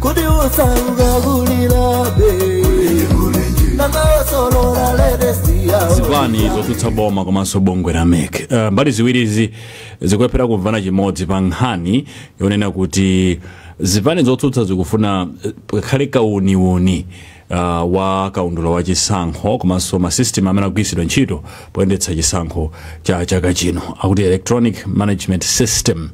kodi osauka kulirabe nanga osolola ledesiyawo zipani zotsutsa boma komanso bungwe la mec uh, mbali ziwirizi zikulephera kumvana chimodzi pa nkhani yonena kuti zipani zotsutsa zikufuna eh, pakhale kauniuni uh, wa kaundula wa chisankho komanso masystem amene agwiritsidwe ntchito poyendetsa chisankho cha chaka chino akuti electronic management system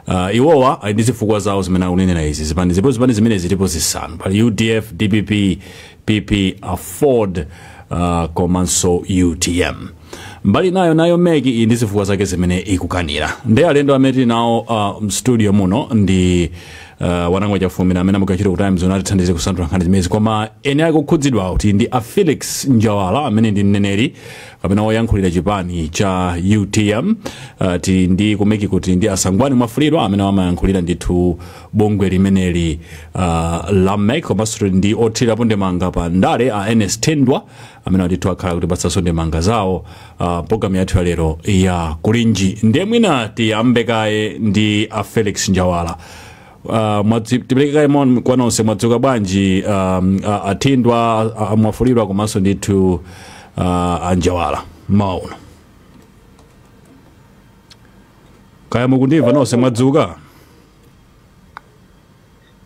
uh, iwowa ali ndi zifukwa zawo zimene akunenera izi zipani ndipo zipani zimene zilipo zisanu pali udf dpp pp afford uh, komanso utm mbali nayo nayo mec ili ndi zifukwa zake zimene ikukanira ndi alendo amene tili nawo uh, mstudio muno ndi uh, wanangwa chafulumira amene amagwira ku times nati athandize kusanthula nkhani zimenezi koma eni ake okhudzidwa tili ndi a felix njawala amene ndi mneneri kapena woyankhulira chipani cha utm uh, tili ndi ku mec tili ndi a sangwani mwafulirwa amene amayankhulira ndithu bungwe limeneli uh, la mec komanso tili ndi othirirapo ndemanga pa ndale a ernest thindwa amene ndithu akhale akutipatsanso ndemanga zawo uh, mprogramu yathu ya lero ya kulinji ndiye mwina tiyambe kaye ndi a felix njawala Uh, mwadzi- tipereke kaye moni kwa nonse mwadzuka bwanji um, a- athindwa a- a- mwafulirwa komanso ndithu uh, anjawala mmawa uno kaya mukundimva nonse mwadzuka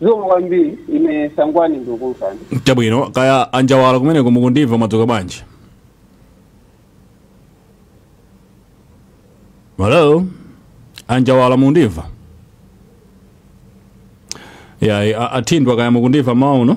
zikomo kwambiri ine sangwani ndikukumvani chabwino kaya anjawala kumeneko mukundimva mwadzuka bwanji hello anjawala mukundimva ya a- athindwa kaya mukundimva mmawa uno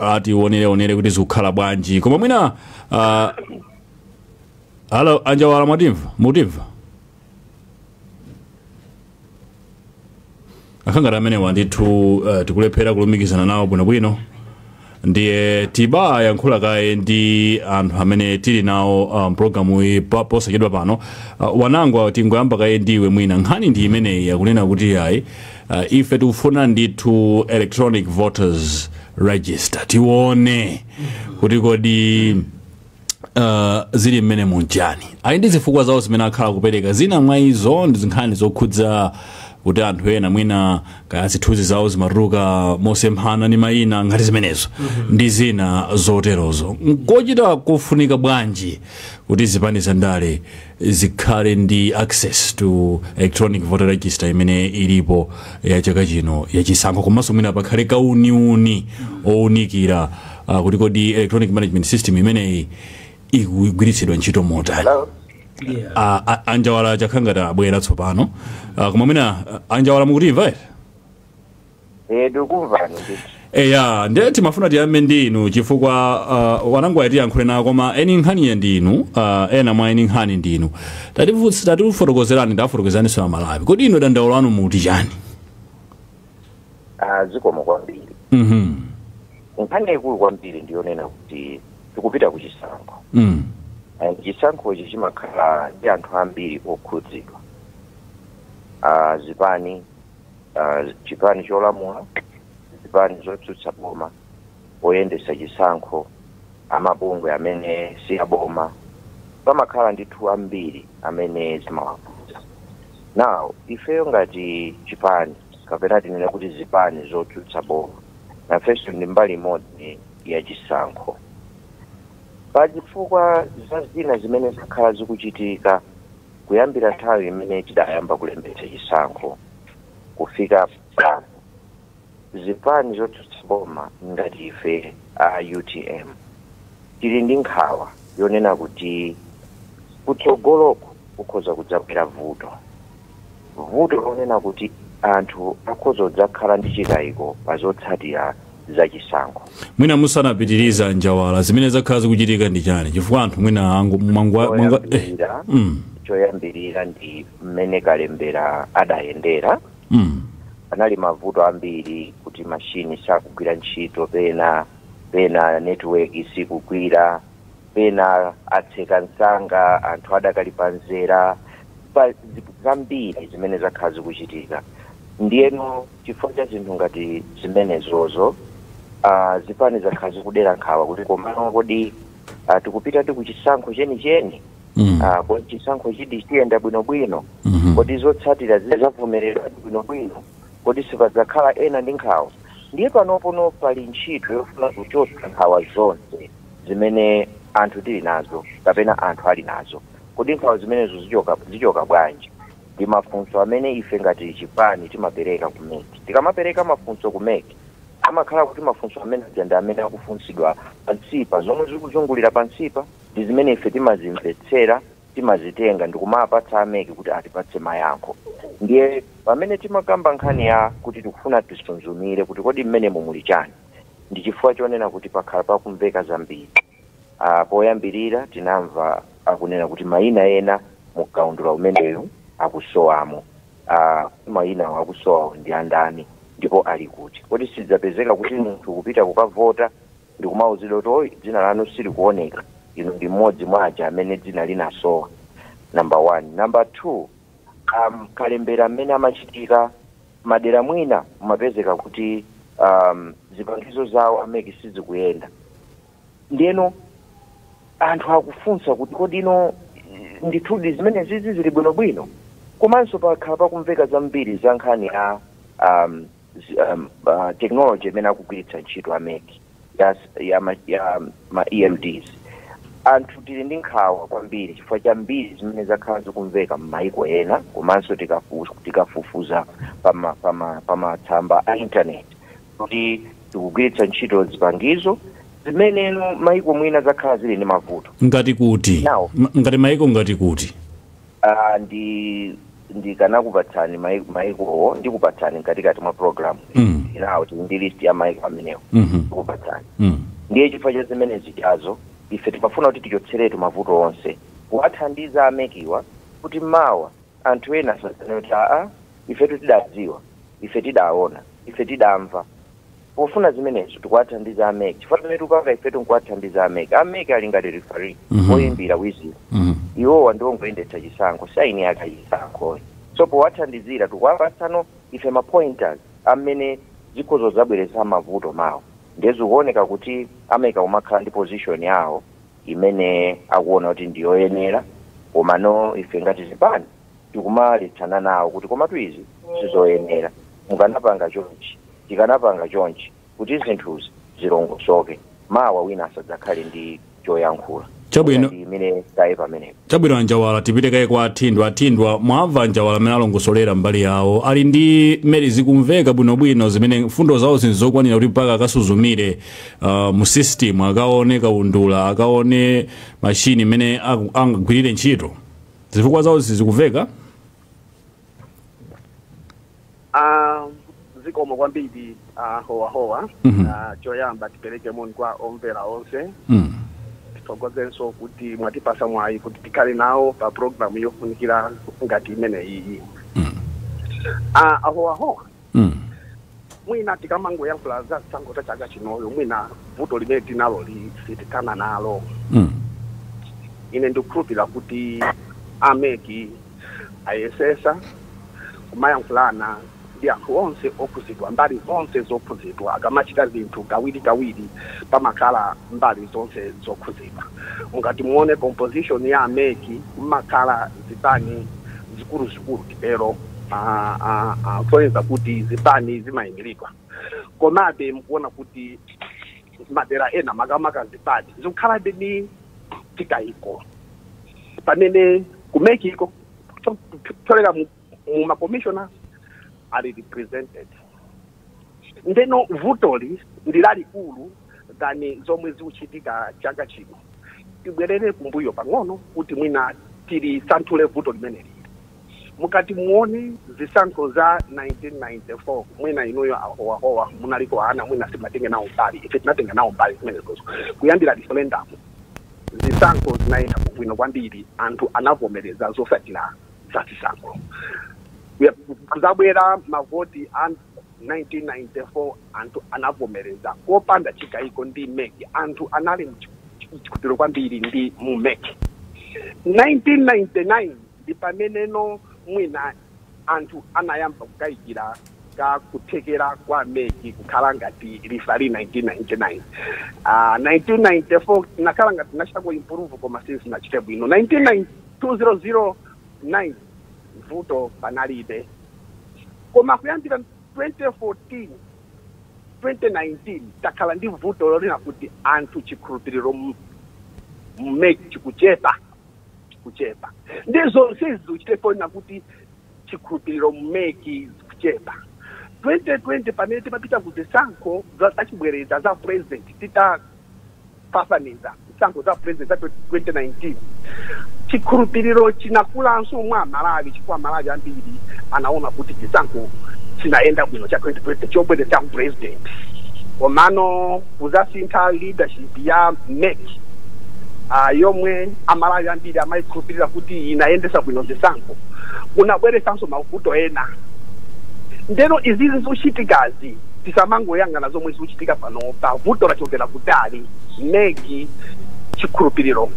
uh, tionereonere kuti zikukhala bwanji koma mwina uh, halo anjawala mwatimva mutimva akhala ngati amenewa ndithu uh, tikulephera kulumikizana nawo bwinobwino ndiye tibayankhula kaye ndi anthu amene tili nawo mprogramu iyi pa- posachedwa pano uh, wanangwa tingoyamba kaye ndiwe mwina nkhani ndi imeneyi yakunena kuti ayi Uh, ife tikufuna ndithu electronic voters register tione kuti kodi uh, zili mmenemu nchiyani ali ndi zifukwa zawo zimene akhala akupereka zina mwa izo ndi nkhani zokhudza kuti anthu ena mwina kaya zithunzi zawo zimatuluka mosemphana ndi mayina zinthu ngati zimenezo ndi zina zoterozo nkochita kufunika bwanji kuti zipani zandale zikhale ndi access to electronic voter register imene ilipo ya chaka chino ya chisankho komanso mwina pakhale kauniuni owunikira uh, kuti kodi electronic management system imeneyi ikugwiritsidwa ntchito motani Hello? yeah. A- a- a Njawala chakhala ngati abwera tsopano uh, koma mwina uh, a Njawala mukutimva ere Eh, tikukumvani ndithu. eya ndiye timafuna tiyambe ndi inu chifukwa uh, a Wanangwa tiyankhule nawo koma eni nkhaniyi ndi inu uh, ena mwa eni nkhani ndi inu Tatifu- tatifotokozerani tafotokozeraninso a Malawi kodi inu dandaulo lanu muti chani Ah, zikomo kwambiri. Mhm. Nkhani yaikulu kwambiri ndiyonena kuti tikupita ku chisankho. Mm. And chisankhochi chimakhala ndi anthu ambiri okhudzidwa. Ah, zipani ah, chipani cholamula zipani zotsutsa boma oyendetsa chisankho amabungwe amene si aboma pamakhala ndithu ambiri amene zimawakhudza now ifeyo ngati chipani kapena tinene kuti zipani zotsutsa boma nafenso ndi mbali imodzi ya chisankho pa chifukwa cha zina zimene zakhala zikuchitika Kuyambira nthawi imene tidayamba kulembetsa chisankho kufika pano, zipani zotsutsa boma ngati ife a utm tili ndi nkhawa yonena kuti kutsogoloku kukhoza kudzabwera vuto. Vuto lonena kuti anthu akhoza kudzakhala ndi chikayiko pa zotsatira za chisankho mwina musanapitirize a Njawala zimene zakhala zikuchitika ndi chani chifukwa anthu mwina angu- mwangwa- mwangwa- eh, choyambirira mm, choyambirira ndi mmene kalembera adayendera mm, anali mavuto ambiri kuti mashini sakugwira ntchito pena pena netiweki sikugwira pena atseka msanga anthu adakali pamzere pa zi- zambiri zimene zakhala zikuchitika ndiyeno Chifukwa cha zinthu ngati zimenezozo, a, zipani zakhala zikudera nkhawa kuti komano kodi a, tikupitadi ku chisankho chenicheni? Mm. A, kodi chisankhochidi chiyenda bwinobwino? Mhm. Kodi zotsatira zidzavomerezedwa bwinobwino? Kodi sipadzakhala ena ndi nkhawa? Ndiye panopono pali ntchito yofuna kuchotsa nkhawa zonse zimene anthu tili nazo kapena anthu ali nazo. Kodi nkhawa zimenezo zichoka, zichoka bwanji? ndi mafunso amene ife ngati chipani timapereka ku mec. Tikamapereka mafunso ku mec, amakhala kuti mafunso amene aja ndi amene akufunsidwa pansipa. Zomwe zikuzungulira pansipa ndi zimene ife timazimvetsera, timazitenga ndi kumawapatsa a mec kuti atipatse mayankho. Ndiye pamene timakamba nkhani ya kuti tikufuna tisunzumire kuti kodi m'menemu muli chani, ndi chifukwa chonena kuti pakhala pakumveka zambiri. a Poyambirira tinamva akunena kuti mayina ena mu kaundula umeneyu akusowamo. a Kodi mayinawo akusowawo ndi a ndani ndipo ali kuti? Kodi sidzapezeka kuti munthu kupita kukavota ndi kumauzidwa kuti, Oyi, dzina lanu silikuoneka. Inu ndi mmodzi mwa aja amene dzina linasowa? Number one. Number two, a kalembera amene amachitika madera mwina mumapezeka kuti um, zipangizo zawo a MEC sizikuyenda ndiyeno anthu akufunsa kuti kodi ino ndithudi zimenezizi zili bwinobwino komanso pakhala pakumveka zambiri za nkhani ya um, zi- um, uh, technology imene akugwiritsa ntchito a MEC ya, ya, ma, ya ma emds anthu tili ndi nkhawa kwambiri chifukwa cha mbiri zimene zakhala zikumveka m'mayiko ena komanso tikafu- tikafufuza pama- pama- pamatsamba a intaneti kuti tikugwiritsa ntchito zipangizo zimene m'mayiko mwina zakhala zili ndi mavuto ngati kuti Now. m- ngati maiko ngati kuti Ah, ndi ndikanakupatsani mai- maikowo ndikupatsani mkatikati mwa program Mm. nawo tili ndi list ya maiko amenewo Mhm. ndikupatsani Mm. ndiye chifukwa cha zimenezichazo ife timafuna kuti tichotseretu mavuto onse kuwathandiza a MEC-wa kuti mawa anthu ena asazane kuti aa ifetu tidadziwa ife tidaona ife tidamva Pofuna zimenezo tikuwathandiza a mec chifukwa zimene tikupanga ifetu nkuwathandiza a mec. A mec ali ngati referee, oyimbira wizulo. Iwowa ndi ongoyendetsa chisankho, si aeni ake a chisankhoyi. So powathandizira tikuwapatsano ife ma pointers amene zikhoza kudzabweretsa mavuto mawa. Ndiye zikuoneka kuti a mec akumakhala ndi position yawo imene akuona kuti ndi yoyenera komano ife ngati zipani tikumaletsananawo kuti komatu izi sizoyenera, mukanapanga chonchi Tikanapanga chonchi kuti zinthuzi zilongosoke, mawa wina asadzakhale ndi choyankhula. Mwina Chabwino. ndiyimire kaye pamenepa. Chabwino a Njawala tipite kaye kwa a Thindwa. A Thindwa, mwamva a Njawala mmene alongosolera mbali yawo. Ali ndi merit zikumveka bwinobwino zimene mfundo zawozi n'zokwanira kuti mpaka akasuzumire ah, mu system akaone kaundula akaone machine mmene aku- angagwirire ntchito. Zifukwa zawozi zikumveka? Ah, zikomo kwambiri a Howahowa Mhm. Ah, choyamba tipereke moni kwa omvera onse Mm. tithokozenso kuti mwatipasa mwayi kuti tikhale nawo pa programu yofunikira ngati imeneyiyi Ah, a Howahowa Mm. mwina tikamangoyankhula za chisankho cha chaka chinoyo mwina vuto limene tinaloli sitithana nalo Mm. ine ndikukhulupirira kuti a MEC Ayesesa kumayankhulana ndi anthu onse okhuzidwa, mbali zonse zokhuzidwa. Akamachita zinthu kawiri kawiri pamakhala mbali zonse zokhuzidwa. Mungati muone composition ya MEC mmakhala zipani zikulu zikulu titero a a a kusonyeza kuti zipani zimayimilidwa. Komabe mukuona kuti. madera ena makamaka zipani zikukhalabe ndi chikayiko pamene ku MEC ko kupyolera mu mu ma commissioners are represented ndeno vutoli ndi lalikulu than zomwe zikuchitika chaka chino tibwerere kumbuyo pang'ono kuti mwina tilisanthule vuto limeneli Mukati muone zisankho za 1994 mwina inuyo a Howahowa munaliko ana mwina simunatenga nawo mbali. Ife tinatenga nawo mbali zimenezozo. Kuyambira referendum zisankho zinayenda bwino kwambiri anthu anavomereza zosatira za zisankho. Kuzabwera mavoti a 1994 anthu anavomereza kopanda chikayiko ndi MEC. Anthu anali nchikhulupiriro kwambiri ndi mu MEC. 1999. Ndi pameneno mwina anthu anayamba kukayikira ka kuthekera kwa MEC kukhala ngati referee 1999. Aa 1994 tinakhala ngati tinachitako improve koma sizinachite bwino 1990 2009 vuto panalibe koma kuyambira 2014 2019 takhala ndi vuto lonena kuti anthu chikhulupiriro mu MEC chikuchepa. chikuchepa ndipo sizichita kufunsa kuti chikhulupiriro mu MEC chikuchepa 2020 pamene timapita ku zisankho zachibwereza za president titafafaniza zisankho za president za 2019 chikhulupiriro chinakulanso mwa amalawi chifukwa amalawi ambiri anaona kuti chisankho chinayenda bwino cha 2020 chobwereza cha president komano kuzasintha leadership ya MEC a yomwe amalawi ambiri amayikhulupirira kuti inayendesa bwino zisankho kunabweresanso mavuto ena ndeno izizi zochitikazi tisamangoyang'ana zomwe zikuchitika panopa vuto lachokera kutali MEC chikhulupiriro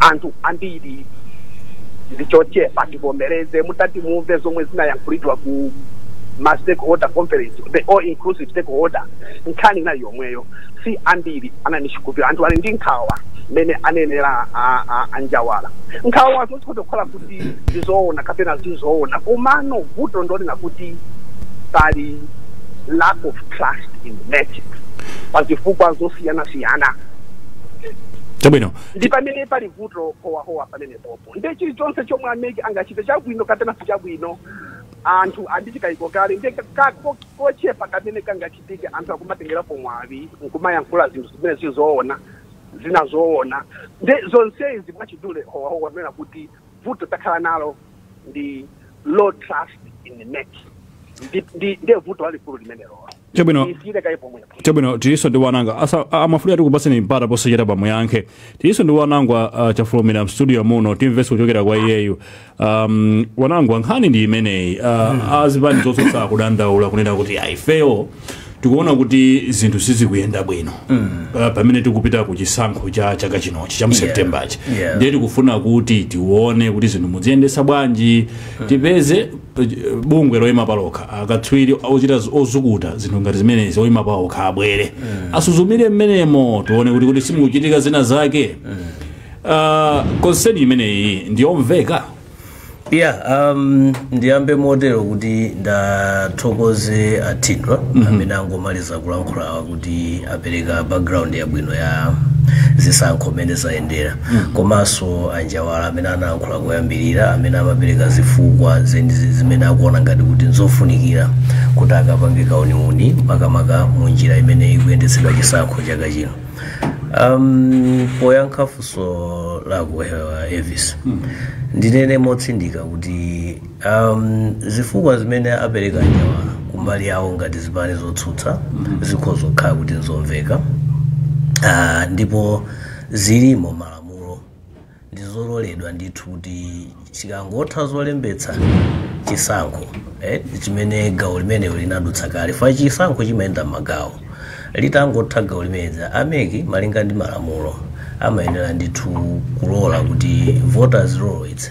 anthu ambiri ndichochepa tivomereze mutati mumve zomwe zinayankhulidwa ku ma stakeholder conference the all inclusive stakeholder nkhani inali yomweyo si ambiri anali nchikhulupiriro anthu ali ndi nkhawa mmene anenera a- a- a Njawala nkhawa zo zikhoza kukhala kuti ndizoona kapena sizoona komano vuto ndi lonena kuti pali lack of trust in MEC pa zifukwa zosiyanasiyana chabwino ndi pamene pali vuto Howahowa pamenepo Ndiye chilichonse chomwe a mec angachite chabwino kapena sichabwino anthu ali ndi chikayiko kale ndiye ka ka ko kochepa kamene kangachitike anthu akumatengerapo mwawi nkumayankhula zinthu zimene si zoona zina zoona ndiye zonsezi mwachidule Howahowa anena kuti vuto takhala nalo ndi low trust in mec ndi ndi ndiye vuto lalikulu limenelolo. Chabwino. isiyire kaye pomwepo chabwino tilinso ndi wanangwa Asa- a- amafunika tikupatseni mpata posachedwapa muyankhe tilinso ndi wanangwa uh, chafulumira mstudio muno timvenso kuchokera kwa iyeyu um, wanangwa nkhani ndi imeneyi uh, azipani zotsutsa akudandaula kunena kuti aifewo tikuona kuti zinthu sizikuyenda bwino uh, pamene tikupita ku chisankho cha chaka chinochi cha mu septembachi Yeah. ndiye tikufuna kuti tione kuti zinthu muziyendesa bwanji tipeze eh, bungwe loyima palokha akatswiri ochita z- ozukuta zinthu ngati zimenezi oyima paokha abwere asuzumire mmenemo tione kuti kuti sikukuchitika zina zake Ah, konseni imeneyi ndiyomveka yeah um, ndiyambe motero kuti ndiwathokoze a Thindwa amene angomaliza kulankhulawa kuti ndi apereka background yabwino ya zisankho mmene zayendera komanso anjawala amene anayankhula koyambirira amene amapereka zifukwa zenizi zimene akuona ngati kuti nzofunikira kuti akapange kauniuni makamaka mu njira imene ikuyendetsedwa chisankho chaka chino um, poyankha funso lako uh, Elvis ndinene motsindika kuti Um, zifukwa zimene apereka anjawala kumbali yawo ngati zipani zotsutsa zikhoza kukhala kuti nzomveka Ah, ndipo zili mmalamulo ndizololedwa ndithu kuti chikangotha zolembetsa chisankho eh, chimene gawo limenelo linadutsa kale paja chisankho chimayenda mmagawo litangotha gawo limenezi a mec malinga ndi malamulo amayenera ndithu kulola kuti voters roll its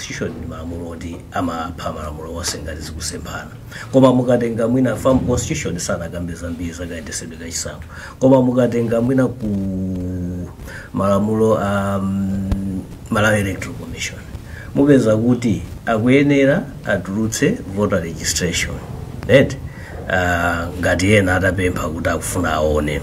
constitution ndi malamulo oti amapha malamulo onse ngati zikusemphana koma mukatenga mwina pa mconstitution sanakambe zambiri zakayendetsedwe ka chisankho koma mukatenga mwina ku malamulo a um, malawi electoral commission mupeza kuti akuyenera atulutse voter registration right uh, ngati ena atapempha kuti akufuna aone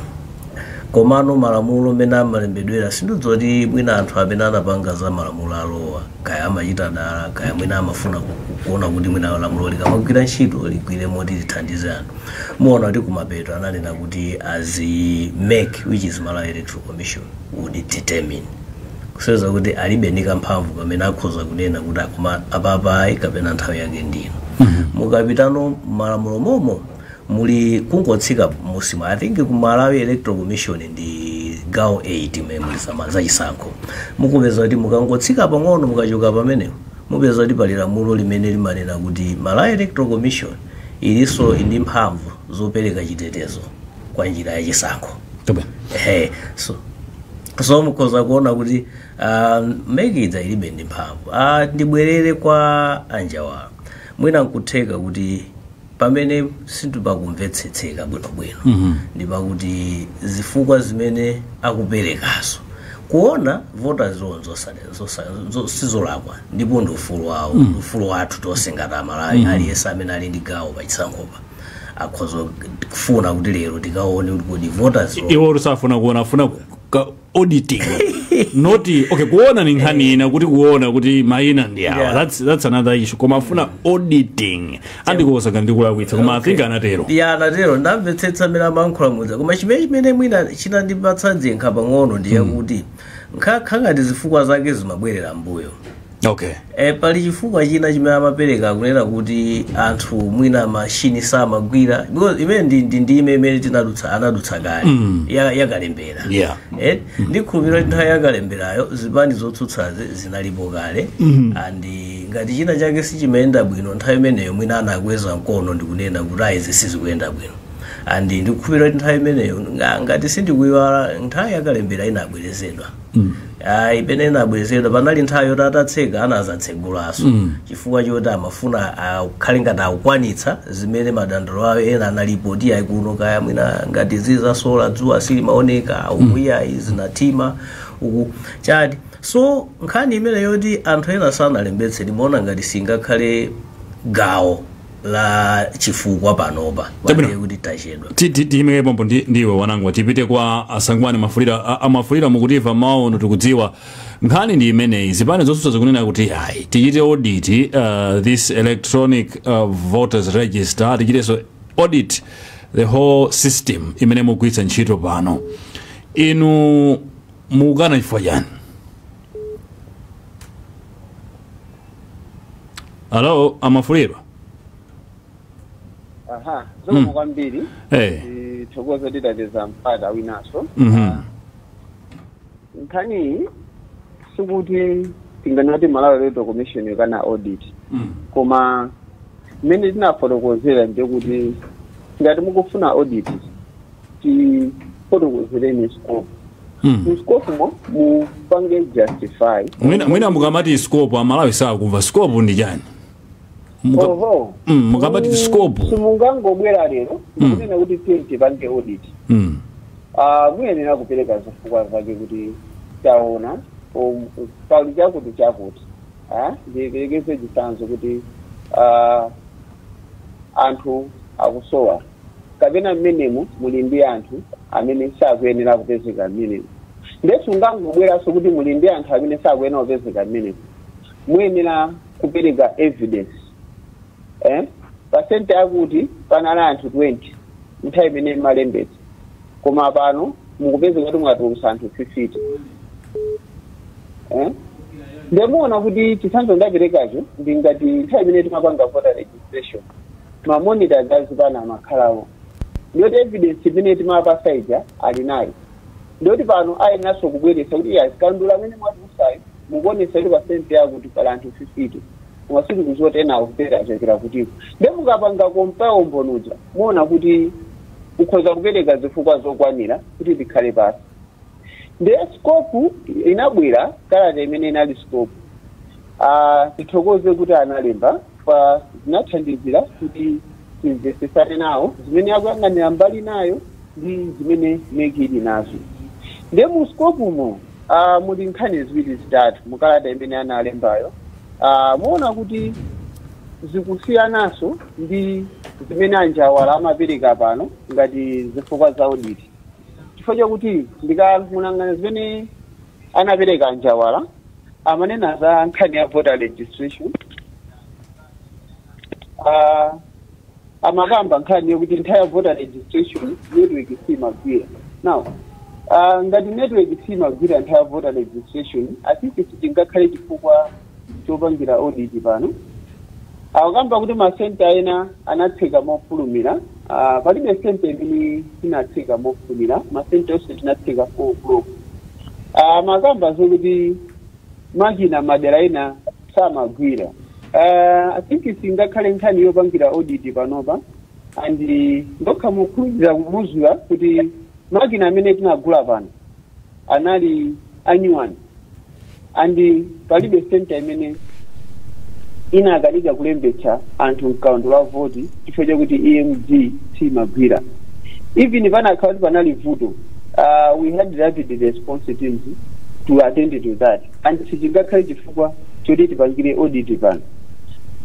komano malamulo mmene amalembedwera sindidziwa kuti mwina anthu amene anapanga za malamulo awowa kaya amachita dala kaya mwina amafuna ku- ku- kuona kuti mwina lamulo likamagwira ntchito ligwire moti lithandize anthu muona kuti kumapeto ananena kuti as mec which is malawi electoral commission would determine kusonyeza kuti alibe ndi kamphamvu kamene akhoza kunena kuti a koma apa ayi kapena nthawi yake ndino mukapitano mmalamulo momo muli kungotsika musimo i think ku malawi electoral commission ndi gawo 8 mmene muli zama- za chisankho mukupeza kuti mukangotsika pang'ono mukachoka pamenepo mupeza kuti pali lamulo limene limanena kuti malawi electoral commission ilinso ndi mphamvu zopereka chitetezo kwa njira ya chisankho Chabwino. Ehe, so so mukhoza kuona kuti ah, MEC idza ilibe ndi mphamvu Ah, ndibwerere kwa a Njawala mwina nkutheka kuti pamene sipakumvetsetseka bwinobwino mm -hmm. ndi pakuti zifukwa zimene akuperekazo kuona voters roll sizolakwa ndipo ndi ufulu wawo mm. ufulu wathu tonse ngati amalawi mm. aliyense amene ali ndi gawo pachisankhopa akhoza kufuna kuti lero tikaone kuti kodi voters roll iwo sakufuna kuona afuna auditing not okay kuona ni nkhani ina kuti kuona kuti maina ndi awa Yeah. that's, that's another issue koma afuna auditing andikonza ngati ndikulakwitsa koma i think anatero ya anatero ndamvetsetsa mmene amayankhula muja koma chimene chimene mwina chinandipatsa dzinkha pang'ono ndi yakuti nkhakhala ngati zifukwa zake zimabwerera mbuyo okay e, pali chifukwa china chimene amapereka kunena kuti anthu mwina mashini samagwira because imene ndi- ndi ndime imene tinadutsa anadutsa kale ya- yakalembera Yeah. Eh, ndikhulupirira kuti nthawi yakalemberayo zipani zotsutsazi zinalipo kale and ngati china chake sichimayenda bwino nthawi imeneyo mwina anakweza mkono ndikunena kuti ayi izi sizikuyenda bwino and ndikukhulupirira kuti nthawi imeneyo nga- ngati sindikuyiwala nthawi yakalembera inabwerezedwa aipena inabwerezedwa panali nthawi yoti atatseka anazatsegulanso chifukwa choti amafuna akhale ngati akukwanitsa zimene madandaulo awo ena analipo oti ayi kuno kaya mwina ngati zi za solar dzuwa silimaoneka uku ayi zinathima uku chati so nkhani imene yoti anthu ena sanalembetse ndimaona ngati singakhale gawo la chifukwa panopa Chabwino. kwambiri kuti tachedwa Ti- ti- tiyimike pompo ndi ndi inu a Nanga tipite kwa a Sangwani Mwafulirwa a- a Mwafulirwa mukutimva mawu ano tikudziwa nkhani ndi imeneyi zipani zotsutsa zikunena kuti ayi tichite audit uh, this electronic uh, voters register tichitenso audit the whole system imene mugwiritsa ntchito pano inu mukukana chifukwa chani hello a Mwafulirwa aha zikomo kwambiri Eh. tithokoze titapeza mpata winanso Mhm. nkhaniyi sikuti tinganati malawi electoral commission ikana audit Mm. koma mmene tinafotokozera ndi kuti ngati mukufuna audit tifotokozereni scope mu scope mo mupange justify mwina mwina mukamati scope amalawi sakumva scope ndi chani Muka- oho Mm, mukamati scope simungangobwera lero Mm. kunena kuti tiye tipange audit Mm, Ah, muyenera kupereka zifukwa zake kuti taona um, pali chakuti chakuti Ah, ndiperekeze chitsanzo kuti ah, anthu akusowa kapena mmenemo muli ndi anthu amene sakuyenera kupezeka mmenemo nde sungangobweranso kuti muli ndi anthu amene sakuyenera kupezeka mmenemo muyenera kupereka evidence eh? pa senta yakuti panali anthu 20 nthawi imene mumalembetsa koma pano mukupeza kuti mwatulutsa anthu 50 eh? nde muona kuti chitsanzo ndaperekacho ndi ngati nthawi imene timapanga voter registration ma monitors azipani amakhalako ndiyoti evidence imene timawapatsa ija ali nayo ndiyoti pano ayeneranso kubweretsa kuti kaundula amene mwatulutsayu mukuonesa kuti pa senta yakuti pali anthu 50 koma sitikuziwa kuti ena akupera achokera kutiko nde mukapanga compare umboni uja muona kuti mukhoza kupereka zifukwa zokwanira kuti tikhale pasi ndiye scope inabwera kalata imene inali scope Ah, tithokoze kuti analembapo zinathandizira kuti timvesesane nawo zimene akuyang'anira mbali inayo ndi zimene MEC ili nazo ndiye mu scope umo ah, muli nkhani ziwiri zitatu mukalata imene analembayo Ah, muona kuti zikusiyananso ndi zimene a Njawala amapereka pano ngati zifukwa za audit chifukwa chakuti ndikamayang'ana zimene anapereka a Njawala amanena za nkhani ya voter registration Ah, amakamba nkhani yokuti nthawi ya voter registration network simagwira now ah, ngati network simagwira nthawi ya voter registration i think sichingakhale chifukwa chopangira audit pano akukamba kuti masenta ena anatseka mofulumira uh, palibe senta imene tinatseka mofulumira masenta onse tinatseka 4 o'clock uh, amakamba zokuti makina madera ena samagwira uh, i think singakhale nkhani yopangira audit panopa and ndikukhulupirira kukuuzani kuti makina amene tinagula pano anali anyuwani and palibe senta imene inakanika kulembetsa anthu mkaundula wa voti chifukwa chakuti EMD siyimagwira even panakhala kuti panali vuto uh, we had rapid response teams to attend to that and sichingakhale chifukwa choti tipangire audit pano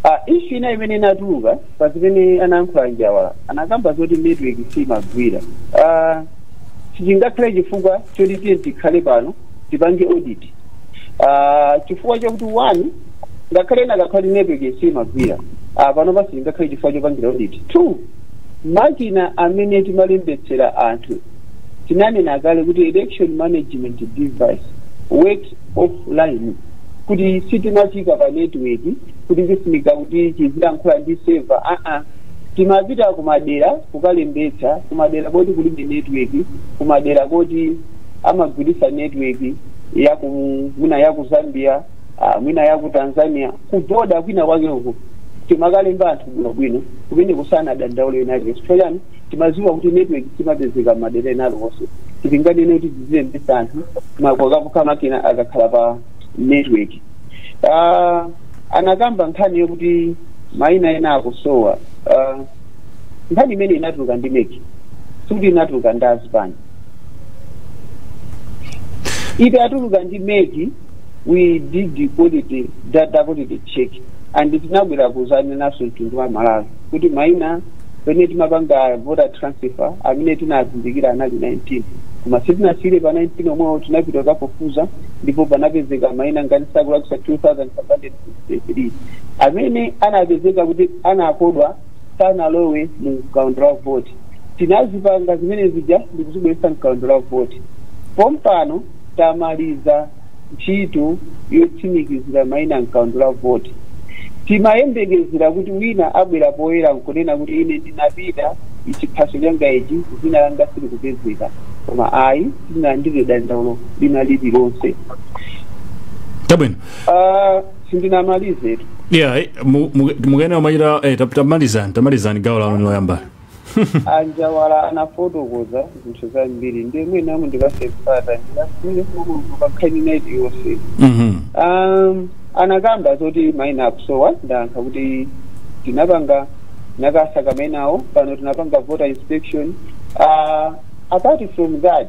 uh, issue ina imene inatuluka pa zimene anayankhula a Njawala anakamba zoti network siyimagwira uh, sichingakhale chifukwa choti tiye tikhale pano tipange audit Ah, chifukwa chakuti one ngakhale ena akati network simagwira Ah, pano pa sichingakhale chifukwa chopangira audit two makina amene timalembetsera anthu tinanena kale kuti election management device works offline kuti sichimafika pa network kuti sizifunika kuti chizilankhula ndi seva aa timapita kumadera kukalembetsa kumadera koti kulibe network kumadera koti amagwiritsa network yaku mwina yaku zambia ah, mwina yaku tanzania kuboda kwina kwake uko timakalemba anthu bwinobwino kumene kusanadandaule aliyense chifukwa chani timaziwa kuti network simapezeka m'madera ena aliwonse sitinganene kuti tizilembetsa anthu pokhapokha makina akakhala pa network Ah, anakamba nkhani yokuti maina ena akusowa Ah, nkhani imene inatuluka ndi MEC sikuti inatuluka ndi azipani itatuluka ndi MEC we did the quality data quality check and tinabwera kuzanena nawo mtundu wa malawi kuti maina pamene timapanga voter transfer amene tinazindikira anali 19 koma sitinasiyire pa 19 omwewo tinapita kukafufuza ndipo panapezeka maina ngati sindikulakwitsa 2563 amene anapezeka kuti anakodwa sanalowe mu mkaundula wa voti tinazipanga zimene zija ndikuzibweretsa mkaundula wa voti pompano tamaliza ntchito yotsimikizira maina m'kaundula wa voti. Timayembekezera kuti wina abwera poyera n'kunena kuti ine ndinapita, chiphaso changa ichi, dzina langa silikupezeka. Koma ayi, sitinalandire dandaulo lina lililonse. Chabwino. Ah, sindinamalizetu. Yeah, eh, mu- mu- mukuyenera kumachita eh, tap- tamalizani tamalizani gawo lanu loyamba. A Njawala anafotokoza zinthu zambiri ndiye mwina mundipase mpata ndiyankhule pa nkhani yonse Mhm. um, anakamba zoti maina akusowa ndayankha kuti tinapanga tinakasaka mainawo pano tinapanga voter inspection uh, apart from that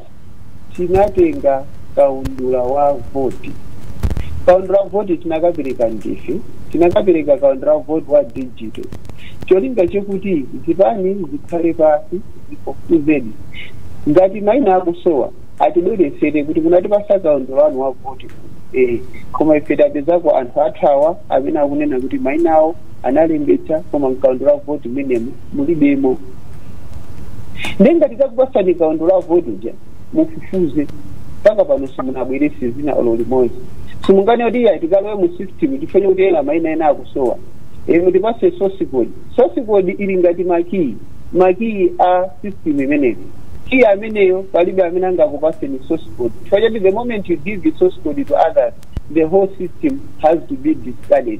tinatenga kaundula wa voti kaundula wa voti tinakapereka ndife tinakapereka kaundula wa voti wa digital cholinga chakuti zipani zikhale pasi zifufuzedi ngati maina akusowa atibweretsere kuti munatipasa kaundula wanu wa voti eh, koma ife tapezako anthu athu awa amene akunena kuti maina awo analembetsa koma mkaundula wa voti mmenemo mulibemo ndi ngati takupasani kaundula wa voti uja mufufuze mpaka pano simunabwerese zina olo limodzi simunganene kuti iya tikalowe mu system chifukwa chakuti mwina maina ena akusowa inu tipase source code source code ili ngati makiyi makiyi a system imeneyi kiyi ameneyo palibe amene angakupaseni source code chifukwa choti the moment you give the source code to others the whole system has to be discarded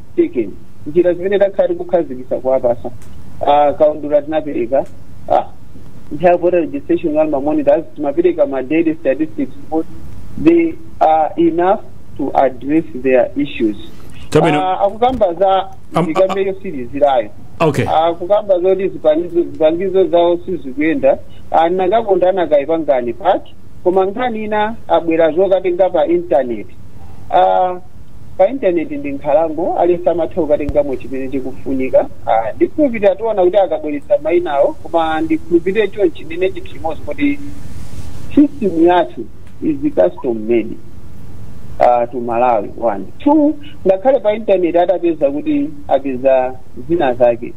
taken njira zimene takhala tikukhazikitsa kuwapasa Ah, kaundula tinapereka ah, nthawi voter registration ngati mamonitors timapereka ma daily statistics but they are enough to address their issues Chabwino. Ah, akukamba za Am- ndikambe yotsirizirayo okay akukamba zoti zipangizo zipangizo zawo sizikuyenda anakakonda anakayipangani paki koma nkhani ina abwera zokatenga pa intaneti Ah, pa intaneti ndi nkhalango aliyense amatha kukatengamo chimene chikufunika Ah, ndikhulupirira tiona kuti akabweretsa mainawo koma ndikhulupirire chonchi ndinene chinthu chimodzi kuti system yathu is custom made uh, to malawi one two ngakhale pa intaneti atapeza kuti apeza zina zake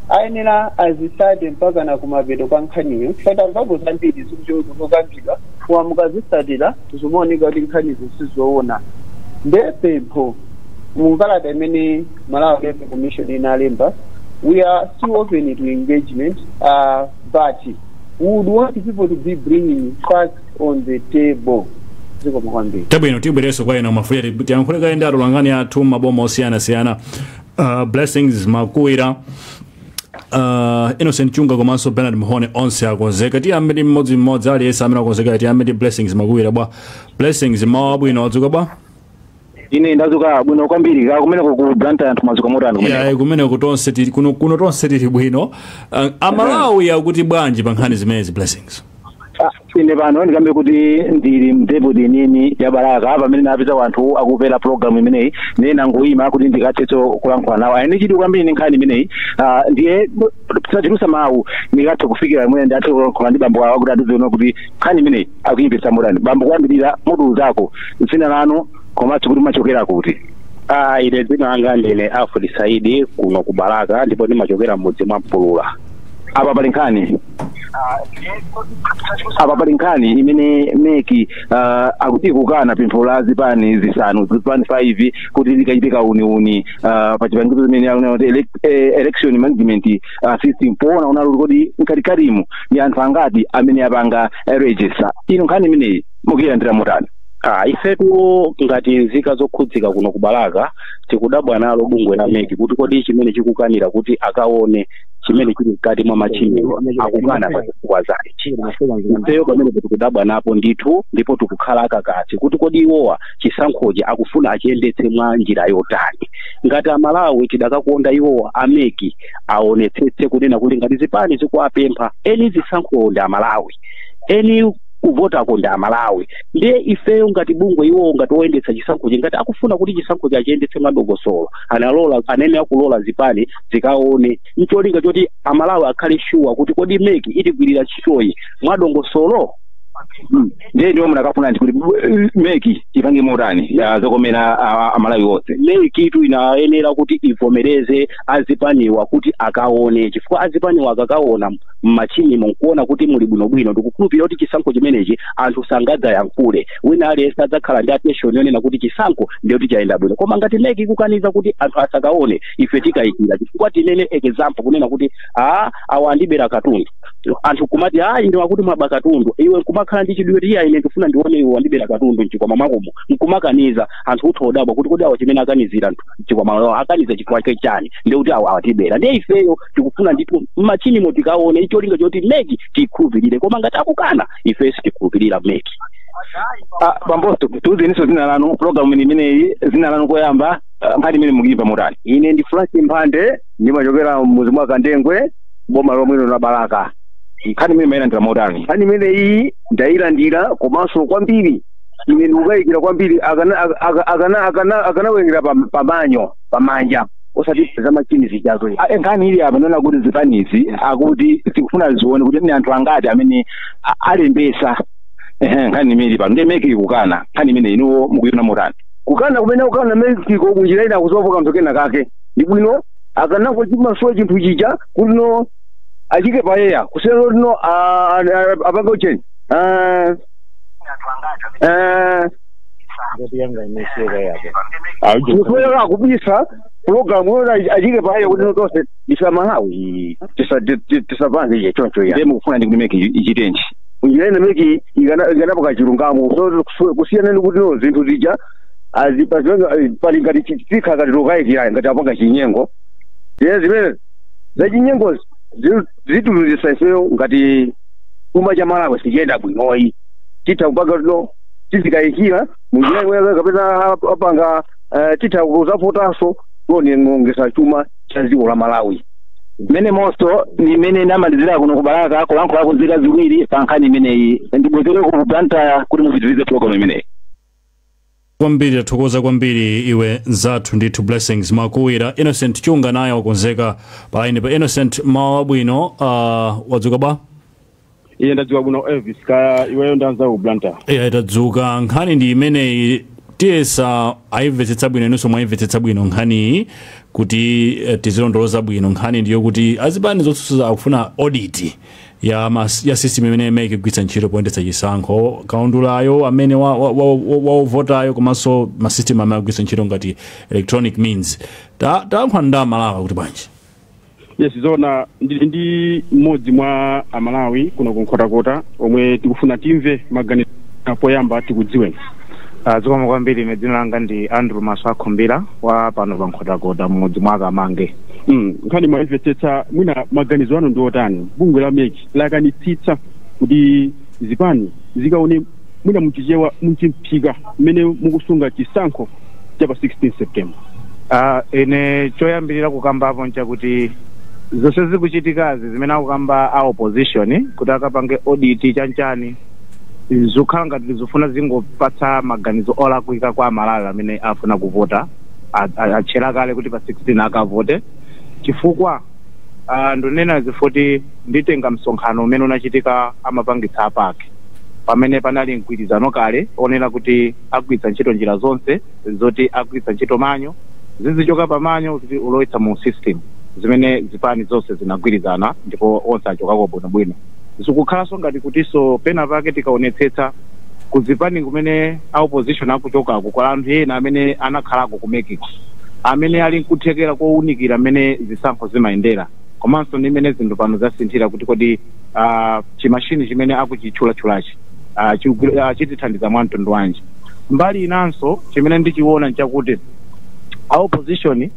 ayenera azitsate mpakana kumapeto kwa nkhaniyo chifukwa timamvapo zambiri zikuchokera zikutulutsidwa koma mukazitsatira zimaoneka kuti nkhanizo sizoona nde pempho mu kalata imene malawi electoral commission inalemba we are still open to engagement uh, but we would want people to be bringing facts on the table zikomo kwambiri chabwino tibwereso kwa a Mwafulirwa tiyankhule kaye ndi atolankhani athu maboma osiyanasiyana uh, blessings makuwira Uh, innocent chunga komanso bernard mhone onse akonzeka tiyambe ndi mmodzi mmodzi aliyense amene akonzekayo tiyambe ndi blessings makuwira bwa blessings mmawa wabwino wadzuka bwa ine ndazuka bwino kwambiri kaya kumeneko ku blantyre anthu mazuka motani kumeneko yayi kumene kuno tonse tili kuno, kuno tonse tili bwino uh, amalawi akuti bwanji pa nkhani zimenezi blessings Ah, ine pano ndikambe kuti ndili mdepoti yeniyeni ya balaka pamene napeza anthu akumvera programu imeneyi ndiye nangoyima kuti ndikathetso kulankhula nawo ali ndi chidwi kwambiri ndi nkhani imeneyi Ah, ndiye tisachulutse mawu ndikathe kufikira pamene ndathe kulankhula ndi bambo awo kuti atiuze kuti nkhani imeneyi akuyimvetsa motani bambo koyambirira mutiuzeko dzina lanu komanso kuti mmachokera kuti Ah, ine dzina langa ndine Alfred Saidi kuno ku Balaka ndipo ndimachokera mudzi mwa Mpulula. apa pali nkhani apa pali nkhani imene meki uh, akuti ikukana pempho la zipani zisanu zipani 5 kuti zikachite kauniuni uh, pa chipangizo zimene akunena kuti elec- eh, election management uh, system poona onano kuti mkatikatimu ndi anthu angati amene apanga eh, register inu nkhani imeneyi mukuyilandira motani Ah, ifetu ngati nzika zokhudzika kuno ku balaka tikudabwa nalo bungwe la meki kuti kodi chimene chikukanira kuti akaone chimene chili mkati mwa machiniwo akukana pa zifukwa zake ifeyo pamene tikudabwa napo ndithu ndipo tikukhala akakasi kuti kodi iwowa chisankhochi akufuna achiyendetse mwa njira yotani ngati amalawi tidakakonda iwowa ameki aonetsetse kunena kuti ngati zipani zikuwapempha eni zisankhowo ndi amalawi eni kuvotako ndi amalawi ndiye ifeyo ngati bungwe iwowo ngati oyendetsa chisankhochi ngati akufuna kuti chisankhochi achiyendetse mwadongosolo analola anene akulola zipani zikaone ncholinga choti amalawi akhale shuwa kuti kodi meki itigwirira ntchitoyi mwadongosolo Mm. ndiye inuwo munakafuna ndi kuti eh, meki ipange motani ya zokomera ah, amalawi onse mekitu inayenera kuti ivomereze azipaniwa kuti akaone chifukwa azipaniwa akakaona mmachinimo nkuona kuti muli bwinobwino ndikukhulupirira kuti chisankho chimenechi anthu sangadzayankhule wina aliyense adzakhala ndi attention yonena kuti chisankho ndiye kuti chayenda bwino koma ngati meki ikukaniza kuti anthu asakaone ife tikayikira chifukwa tinene example kunena kuti a awa andibera katundu anthu kumati a ine wakuti mwaba katundu iwe nkumakhala ndi chidwi kuti ine ndikufuna ndione iwe wandibera katundu mchikwama mwakomo nkumakaniza anthu utha odabwa kuti kodi awa chimene akanizira anthu mchikwama awa akaniza chifukwa chake chani ndiye kuti awawa atibera ndiye ifeyo tikufuna ndithu mmachinimo tikaone ncholinga choti meki tikhulupirire koma ngati akukana ife sitikhulupirira meki Ah, bamboso tiuzeniso zina lanu program imeneyi zina lanu koyamba nkhani imene mukuyimva motani ine ndi frank mphande ndimachokera mmuzi mwa kandengwe boma lomwe lino la balaka nkhani imene mayilandira motani nkhani imeneyi ndayilandira komanso kwambiri ine ndikukayikira kwambiri akana- aka- aka- akana- akana- akanawerengera pa- pamanyo pamanja osati za machini zijazo Ah, eh, nkhani ili apa ndi yonena kuti zipanizi akuti zikufuna zione kuti ni anthu angati amene a- alembesa Ehe, nkhani imene ili pano ndiye meki ikukana nkhani imene inuwo mukuyiona motani kukana kumene ikukana mekiko kunjira ina akusowapo kanthu kena kake ndi bwino akanangochimasula chinthu chija kuti no achiike poyera kusiyana kuti no a- a- a- apange ucheni Ah, ah, Ngati yanga imeseka yapo. Aujo. musoera akubisa pulogalamu yona achiike poyera kuti no tonse amalawi tisapange iye choncho ya nde mukufuna ndi kuti meki ichitenji njira ina meki ikana- ikanapanga chilungamo so kusu- kusiyana ni kuti no zinthu zija azi- pa zimene- eh, pali ngati chi- chikhala ngati lokayikira ngati apanga chinyengo ye zimene zachinyengo zitiluzisa ifeyo ngati chuma cha malawi sichiyenda bwinoyi titha kupanga no tizikayikira munjira imwe kapena apanga eh, titha kuzavotanso kuonongesa chuma cha dziko la malawi mmenemonso ndi mmene ndamalizira kuno ku balaka kulankhula ku nzika ziwiri pa nkhani imeneyi ndibwezere ku blantyre kuti mupitirize program imeneyi kwambiri tathokoza kwambiri iwe nzathu ndithu blessings makuwira innocent chunga naye wakonzeka palaini pa innocent mmawa wabwino uh, wadzuka bwa ine ndadzuka bwino elvis kaya iweyo ndi anzawo ku blantyre eya tadzuka nkhani ndi imeneyi tiyese tayimvetsetsa bwino inunso mwayimvetsetsa bwino nkhaniyi kuti eh, tizilondoloza bwino nkhani ndiyo kuti azipani zotsutsa akufuna audit ya, mas, ya system imene imene ikugwiritsa ntchito poyendetsa chisankho kaundulayo amene wavotayo wa, wa, wa komanso masystem amene akugwiritsa ntchito ngati electronic means Ta- tayankhula ndi amalawi kuti bwanji yes zona ndili ndi mmodzi mwa amalawi kuno ku nkhotakota omwe tikufuna timve maganizo a poyamba tikudziweni Ah, zikomo kwambiri ine dzina langa ndi andrew masoakhumbira wa pano pa nkhotakota mmudzi mwa kamange Mm, nkhani mwayimvetsetsa mwina maganizo anu ndi otani bungwe la mec lakanitsitsa kuti zipani zikaone Mwina mchichewa mchimphika mmene mukusunga chisankho cha pa 16 September. Aaa ine choyambilira kukambapo nchakuti zonse zikuchitikazi zimene akukamba a opposition kuti akapange audit chanchani zikukhala ngati zikufuna zingopatsa maganizo olakwika kwa amalawi amene afuna kuvota atchera kale kuti pa 16 akavote chifukwa Ah, ndunena chifuti nditenga msonkhano umene unachitika amapangitsa a pac pamene panali mgwirizano kale onena kuti agwiritsa ntchito njira zonse zoti agwiritsa ntchito manual zizichoka pa manual kuti kulowetsa mu system zimene zipani zonse zinagwirizana ndipo onse achokako bwinobwino zikukhalanso ngati kutinso pena pake tikaonetsetsa kuzipani kumene a opposition akuchokako kuli anthu ena amene anakhalako ku mec ko amene ali nkuthekera kowunikira mmene zisankho zimayendera komanso ndi mmene zinthu pano zasinthira kuti kodi ah, chimashini chimene akuchitchulatchulachi ah, chikugwira- ah, chitithandiza mwa mtundu wanji mbali inanso chimene ndichiona nchakuti a opposition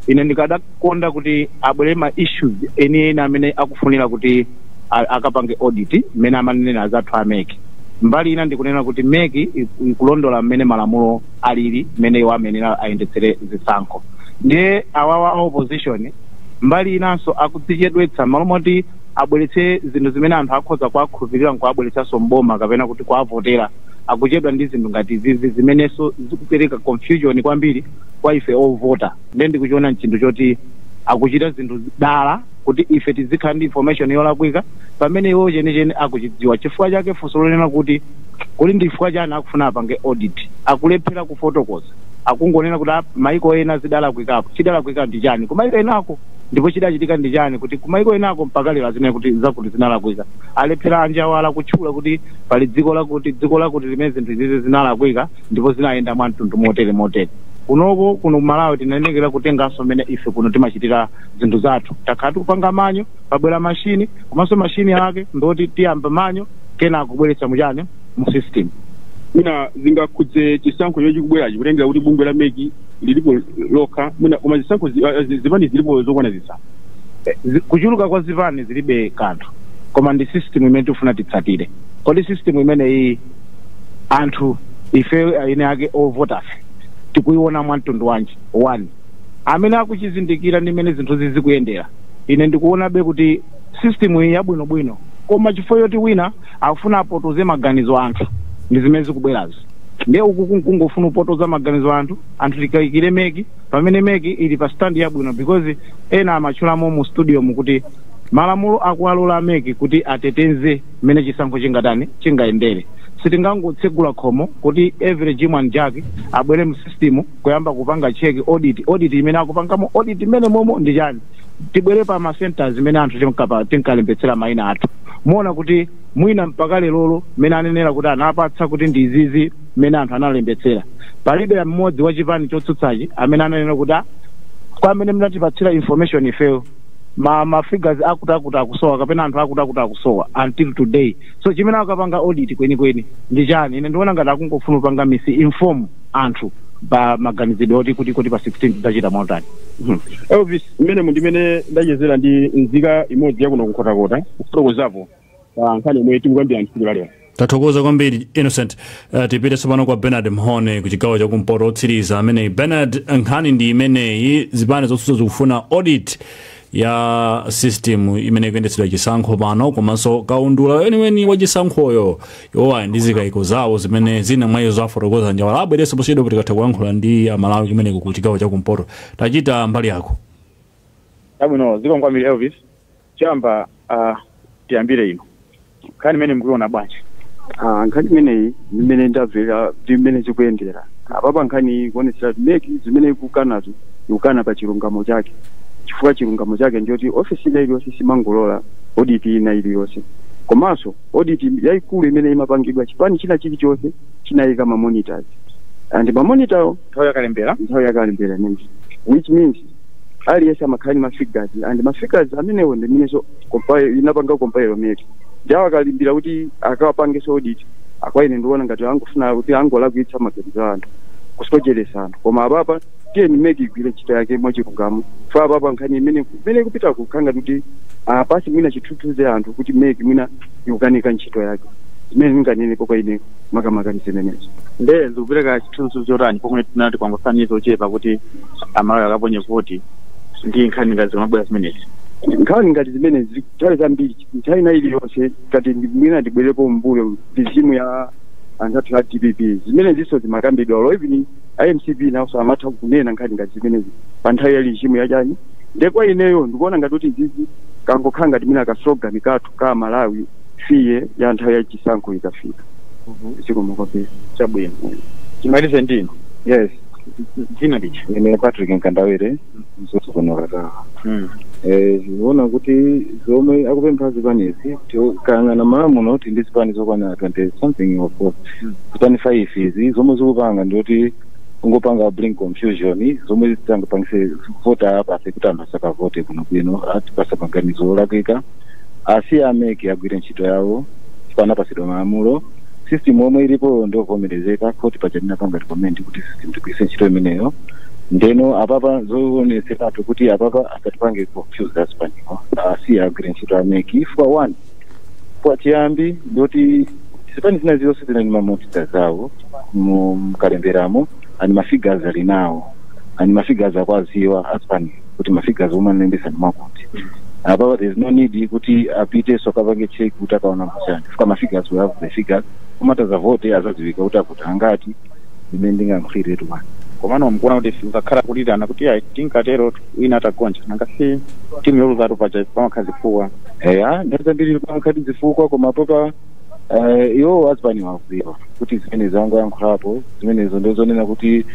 ine ndikada konda kuti abweretse ma issues enieni amene akufunira kuti a- akapange audit mmene amanenera anzathu a mec mbali ina ndikunena kuti mec iku- ikulondola mmene malamulo alili mmene iwo ayenera ayendetsere zisankho ndiye awawa a opposition mbali inanso akudzichedwetsa malo moti abweretse zinthu zimene anthu akhoza kuwakhulupirira nkuwabweretsanso mboma kapena kuti kuwavotera akuchedwa ndi zinthu ngati izizi zimenenso zikupereka confusion kwambiri kwa ife ovota nde ndikuchiona nchinthu choti akuchita zinthu dala kuti ife tizikhala ndi information yolakwika pamene iwo chenicheni akuchidziwa chifukwa chake funso lonena kuti kuli ndi chifukwa chani akufuna apange audit akulephera kufotokoza akungonena kuti "Ah, maiko ena zidalakwikapo chidalakwika ndi chani kumaiko enako ndipo chidachitika ndi chani kuti kumaiko enako mpaka lero azinena kuti zakuti zinalakwika alephera anjawala kutchula kuti pali dziko lakuti dziko lakuti limene zinthu izizi zinalakwika ndipo zinayenda mwa mtundu motere motere kunoko kuno ku malawi tinayenekera kutengeranso mmene ife kuno timachitira zinthu zathu takhala tikupanga manual pabwera mashini komanso mashini ake ndoti tiyamba manual kenako kubweretsa muchani mu system mwina zingakhudze chisankho chomwe chikubwerachi kutengera kuti bungwe la MEC lilipo lokha mwina koma zisankho zi- ah, zi- zipani zilipo zokwana zisanu Zi- kuchuluka kwa zipani zilibe kanthu koma ndi system imene tifuna titsatire kodi system imeneyi anthu ife eni ake ovotafe tikuiona mwa mtundu wanji one amene akuchizindikira ndi mmene zinthu zizikuyendera ine ndikuonabe kuti system ili yabwinobwino koma chifukwa yoti wina akufuna apotoze maganizo anthu ndi zimene zikubwerazo nde uku kungofuna kupotoza maganizo anthu anthu tikayikire MEC pamene MEC ili pa stand yabwino because ena amatchulamo mu studio mu kuti malamulo akuwalola MEC kuti ateteze mmene chisankho chingatani chingayendere sitingangotsegula khomo kuti every jim and jack abwere mu system kuyamba kupanga check audit audit imene akupangamo audit imene momo ndi chani tibwere pa ma centers imene anthu tinkapa- tinkalembetsera maina athu muona kuti mwina mpaka lerolo mmene anenera kuti anapatsa kuti ndi izizi mmene anthu analembetsera palibe mmodzi wa chipani chotsutsachi amene ananena kuti "Ah, kwa mmene munatipatsira information ifeyo ma ma figures akutakuti akusowa kapena anthu akutakuti akusowa until today so chimene akapanga audit kwenikweni ndi chani ine ndikuona ngati akungofuna kupanga misinform anthu pa maganizidwe oti kuti kuti pa 16 tidzachita motani Mhm. elvis mmenemu ndi mmene ndachezera ndi nzika imodzi yakuno ku nkhotakota kufotokozapo pa nkhani yomwe tikukambira tsiku la lero tathokoza kwambiri innocent uh, tipite tsopano kwa bernard mhone ku chigawo cha kumpoto otsiriza ameneyi bernard nkhani ndi imeneyi zipani zotsutsa zikufuna audit ya system imene ikuyendetsedwera chisankho pano komanso kaundula weniweni wa chisankhoyo iwowa ali ndi zikayiko zawo zimene zina mwa izo afotokoza anjawala abwerenso posachedwa tikatha kuyankhula ndi amalawi kumeneko ku chigawo cha kumpoto tachita mbali yako chabwino zikomo kwambiri elvis Choyamba uh, tiyambire inu nkhani imene mukuiona bwanji? Ah, nkhani imeneyi imene ndamvera ndi imene zikuyendera apapa nkhani iyi ikuonetsera kuti mec zimene ikukanazo ikukana pa chilungamo chake chifukwa chilungamo chake ndiyoti ofesi ina iliyonse simangolola oditi ina iliyonse komanso oditi yayikulu imene imapangidwa chipani china chilichonse chinayika mamonitors and mamonitawo nthawi yakalembera nthawi yakalembera imeneyi which means aliyense amakhala ndi mafigures and mafigures amenewo ndi amenenso inapanga compile meki nthawi yakalembera kuti akawapangenso audit ah kwa ine ndiona ngati angofuna kuti angolakwitsa maganizo a anthu kusocheresa anthu koma apapa tiyeni meki igwire ntchito yake mwachilungamo fo apapa nkhani imene imene ikupita kukhanga kuti apase mwina chithunzithunzi anthu kuti meki mwina ikukanika ntchito yake zimene ndinganenepo kwa ine makamaka ndi zimenezo nde zikupereka chithunzi chotani pomwe tinati kwangosala miyezi yochepa kuti amalawi akaponye voti ndi nkhani ngati zimabwera zimenezi nkhani ngati zimenezi nthawi zambiri nthawi ina iliyonse ngati ndi- mwina ndibwerepo mbuyo regime ya anzathu a dpp zimenezinso zimakambidwa olo even a mcp nawonso amatha kunena nkhani ngati zimenezi pa nthawi ya regime ya chani nde kwa ineyo ndikuona ngati kuti izizi kangokhala ngati mwina ka slogan kathu ka aMalawife ya nthawi ya chisankho ikafika. Zikomo kwambiri. chabwino timalize ndi inu Yes. dzina lija Ine Patrick Nkandawire mzuzu kuno katawa. Eh, ndikuona kuti zomwe akupempha zipanezi tikayang'ana m'Malawi muno tili ndi zipani zokwana 20 something of course Mm. zipani 5 izi zomwe zikupanga ndiyoti kungopanga bring confusion zomwe zingapangise voter apathy kuti anthu asakavote bwinobwino asatipase maganizo olakwika asiye a mec agwire ntchito yawo chifukwa anapasidwa malamulo system yomwe ilipo ndiovomerezeka court paja linapanga recommend kuti system tigwiritse ntchito imeneyo ndeno apapa zoonetseratu kuti apapa asatipange confuse azipaniwo asiye agwire ntchito a mec chifukwa one kwa chiyambi ndoti zipani zina zilonse zinali ndi mamonita zawo mu- mkalemberamo and mafigures ali nawo and mafigures akuwaziwa azipani kuti mafigures omwe analembesa ndi akuti apapa there is no need kuti apitenso akapange check kuti akaonemo chani chifukwa mafigures we have the figures omwe atazavote azadziwika kuti avota angati zimene ndingayankhuliretu bwana komano mkuona kuti kukakhala kulirana kuti ayi tinkatero wina atagonja nanga si timu yoluzatu paja pamakhala zifukwa eya nde zambiri pamakhala zifukwa koma apapa Eh, iwo azipani akuziwa kuti zimene anzanga ayankhulapo zimenezo ndi zonena kuti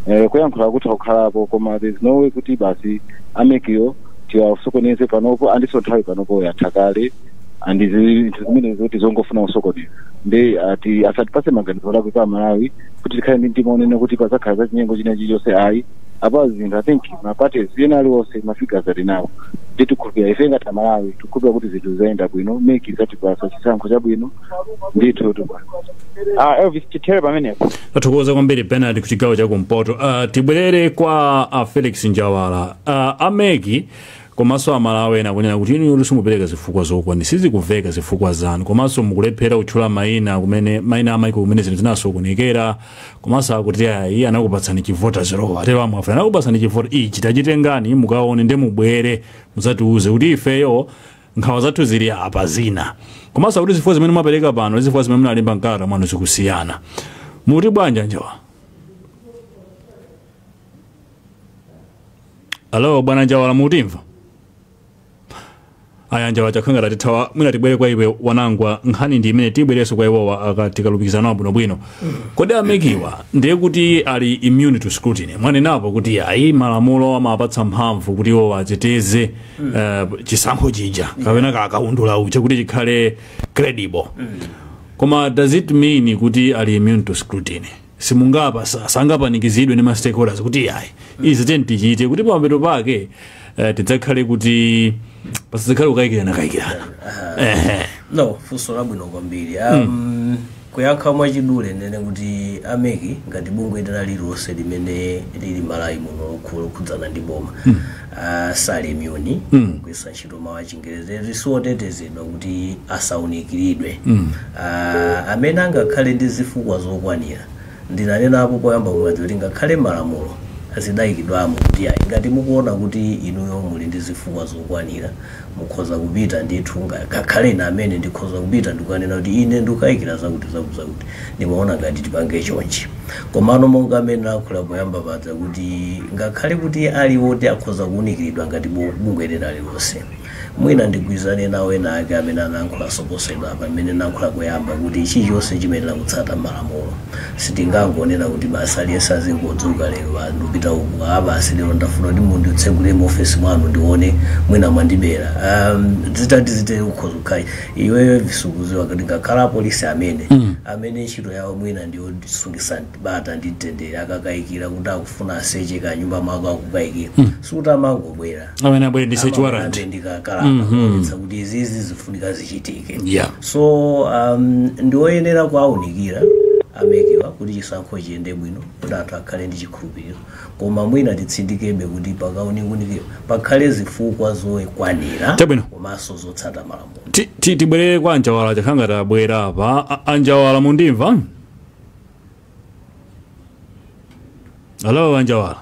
eh, kuyankhula kutha kukhalapo koma there's no way kuti basi amekiwo tiwasokoneze panopo andiso nthawi panopo yatha kale andi zinthu zimenezo kuti zongofuna kusokoneza nde ati asatipase maganizo olakwika amalawi kuti tikhale ndi mtima onena kuti pazakhala zachinyengo china chilichonse ayi apa zinthu I think ma parties ena aliwonse ma figures ali nawo ndi tikhulupira ife ngati aMalawi tikhulupira kuti zinthu zayenda bwino MEC izatipasa chisankho chabwino ndithu bwana ah Elvis tithere pamenepo tathokoza kwambiri Bernard ku chigawo cha kumpoto uh, tibwerere kwa a Felix Njawala uh, a MEC Komaso aMalawi ena kunena kuti inuyotu simupereka zifukwa zokwan sizikuveka zifukwa zanu komaso mukulephera kutchula maina kumene maina amaiko kumene zinthu zinasokonekera komaso akuti ayi anakupatsani chi voters roll atero a Mwafulira anakupatsani chi vote ichi tachitengani mukaone nde mubwere mudzatiuze kuti ifeyo nkhawa zathu zili apa zina komaso akuti zifukwa zimene mwapereka pano ndi zifukwa zimene munalemba mkalata mwanu zikusiyana muti bwanji a Njawala alo bwana Njawala mutimva ayi a Njawala zikukhala ngati atithawa mwina tibwere kwa iwe Wanangwa nkhani ndi imene tibwerenso kwa iwowa tikalumikizana nawo abwinobwino kodi a MEC-wa ndiye kuti ali immune to scrutiny mwanenapo kuti ayi malamulo amapatsa mphamvu kuti iwowa ateteze eh, chisankho chija kapena kakaundula uja kuti chikhale credible koma does it mean kuti ali immune to scrutiny simungapa sa- sangapanikizidwe ndi ma stakeholders kuti ayi izi tiyeni tichite kuti pamapeto pake eh, tidzakhale kuti pasadzakhale kukayikirana kayikirana ehe no funso labwino kwambiri um, kuyankha mwachidule ndinene kuti a MEC ngati bungwe lina lililonse limene lili m'Malawi muno lokhu- lokhudzana ndi boma uh, sali immune kugwiritsa ntchito mawu achingerezi eti si otetezedwa kuti asaunikiridwe Ah, amene angakhale ndi zifukwa zokwanira ndinanenapo poyamba kuja zija kuti ngakhale m'malamulo zidayikidwamo kuti ayi ngati mukuona kuti inuyo muli ndi zifukwa zokwanira mukhoza kupita ndithu nga- ngakhale ine amene ndikhoza kupita ndikukanena kuti ine ndikukayikira zakuti zakuti zakuti ndimaona ngati tipange chonchi Komano, monga mmene talankhulira poyamba paja kuti ngakhale kuti ali oti akhoza kuunikiridwa ngati bu- bungwe lina lilonse, mwina ndigwirizane nawo ena ake amene analankhulanso posachedwapa mmene ndinalankhula poyamba kuti chilichonse chimayenera kutsata malamulo. Sitingangonena kuti basi aliyense azingodzuka lero ah, ndikupita uku, ah basi lero ndafuna kuti munditsegulire muofesi mwanu ndione mwina mwandibera. Um, zitati zitere ukhoza kukhala iweyo Visi ukuziwa kuti ngakhale apolisi amene amene ntchito yawo mwina ndi sungitsa bata ndi mtendere akakayikira kuti akufuna aseche kanyumba mwako akukayikira sikuti amangobwera amayenera abwere ndi search warrant Amabwera ndi kakalata kuonetsa kuti izizi zifunika zichitike Yeah. so um, ndioyenera kuwaunikira a MEC-wa kuti chisankho chiyende bwino kuti anthu akhale ndi chikhulupiriro koma mwina titsindikebe kuti pakaunikunikira pakhale zifukwa zokwanira Chabwino. komanso zotsata malamulo Ti- ti- tibwerere kwa anjawala chifukwa akhala ngati abwera apa A- anjawala mundimva alo anjawala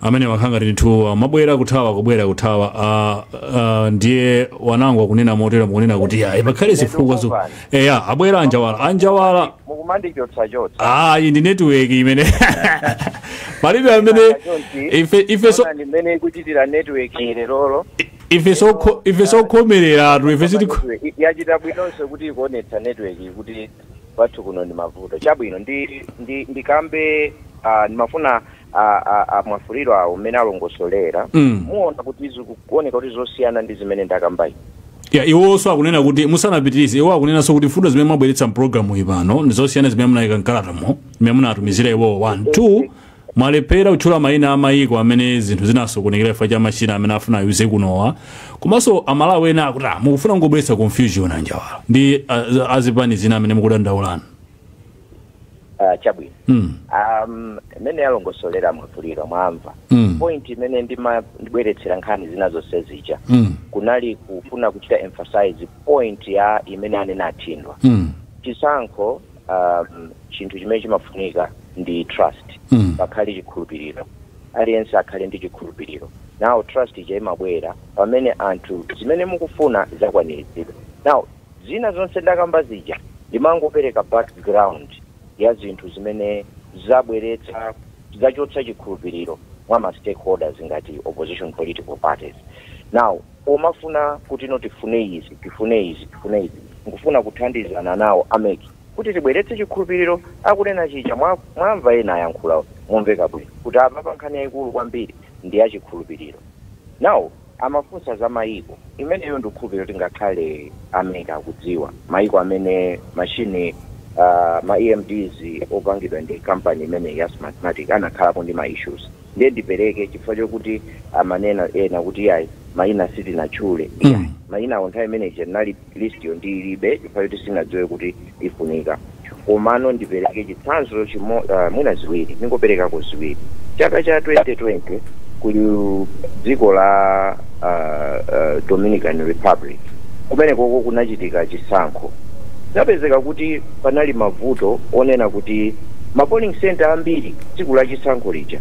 amene mwakhala ngati ndithu mumabwera kuthawa kubwera kuthawa ah, ah, ndiye wanango akunena motero mukunena kuti ayi pakhale zifukwa zo eya abwera anjawala anjawala mukumandichotsachotsa ayi ndi network imene palibe amene Nanga chonchi, ife ife so ona ndi mmene ikuchitira network lerolo ife so ife sokhomereratu ife sitiko Network, yachita bwinonso kuti ikuonetsa network kuti kwathu kuno ndi mavuto chabwino ndi ndi ndikambe ah, ndimafuna a, a, a mwafulirwawo mmene alongosolera Mm. muona kuti zikuoneka kuti zosiyana ndi zimene ndakambayi ya iwonso akunena kuti musanapitirize iwo akunenanso kuti mfundo zimene mwabweretsa mpulogalamu iyi pano ndi zosiyana zimene munayika mkalatamo zimene munatumizira iwowo one two mwalephera kutchula mayina a mayiko amene zinthu zinasokonekera chifukwa cha machina amene afuna ayuze kunowa komanso amalawi ena akuti "Ah, mukufuna kungobweretsa confusion anjawala ndi ah, azipani zina amene mukudandaulana Ah, chabwino mm. um, mmene alongosolera a mwafulirwa mwamva Mm. point imene ndima- ndibweretsera nkhani zina zonse zija Mm. kunali kufuna kuchita emphasize point ya imene anena a thindwa Mm. chisankho um, chinthu chimene chimafunika ndi trust Mm. pakhale chikhulupiriro aliyense akhale ndi chikhulupiriro now trust ija imabwera pamene anthu zimene mukufuna zakwaniritsidwa now Zina zonse ndakamba zija ndimangopereka background ya zinthu zimene zabweretsa, zachotsa chikhulupiriro mwa ma stakeholders ngati opposition political parties. Now pomafuna kutino tifune izi, tifune izi, tifune izi, nkufuna kuthandizana nawo a mec kuti tibweretse chikhulupiriro, akunena chija mwa mwamva ena ayankhula momveka bwino kuti apapa nkhani yaikulu kwambiri ndi ya chikhulupiriro. Now. amafunsa za mayiko. Imeneyo ndikukhulupirira kuti ngakhale a MEC akudziwa, mayiko amene machine a ma EMDs opangidwa ndi company imeneyi ya Smartmatic anakhalapo ndi ma issues. Ndiye ndipereke chifukwa chokuti amanena ena kuti iyayi mayina sitinatchule. Iyayi, mayinawo nthawi imene ija tinali. list yo ndilibe chifukwa choti sinadziwe kuti ifunika komano ndipereke chitsanzo chimo, uh, mwina ziwiri ndingoperekako ziwiri chaka cha 2020 ku dziko la uh, uh, dominican republic kumenekoko kunachitika chisankho zinapezeka kuti panali mavuto onena kuti ma polling center ambiri tsiku la chisankho lija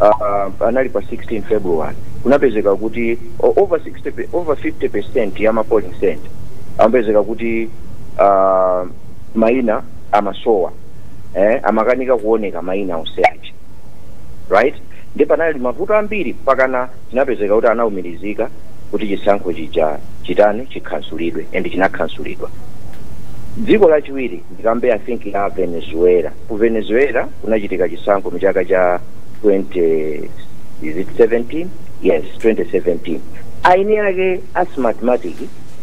uh, anali pa 16 february kunapezeka kuti o- over 60 over 50 percent ya ma polling center amapezeka kuti uh, maina amasowa eh, amakanika kuoneka maina onse ake right ndi panali mavuto ambiri pakana zinapezeka kuti anaumirizika kuti chisankho chija chitani chikhansulidwe and chinakhansulidwa dziko lachiwiri Ndikambe I think ya Venezuela. Ku Venezuela kunachitika chisankho mchaka cha 20 is it 17? Yes, 2017. Eni ake a Smartmatic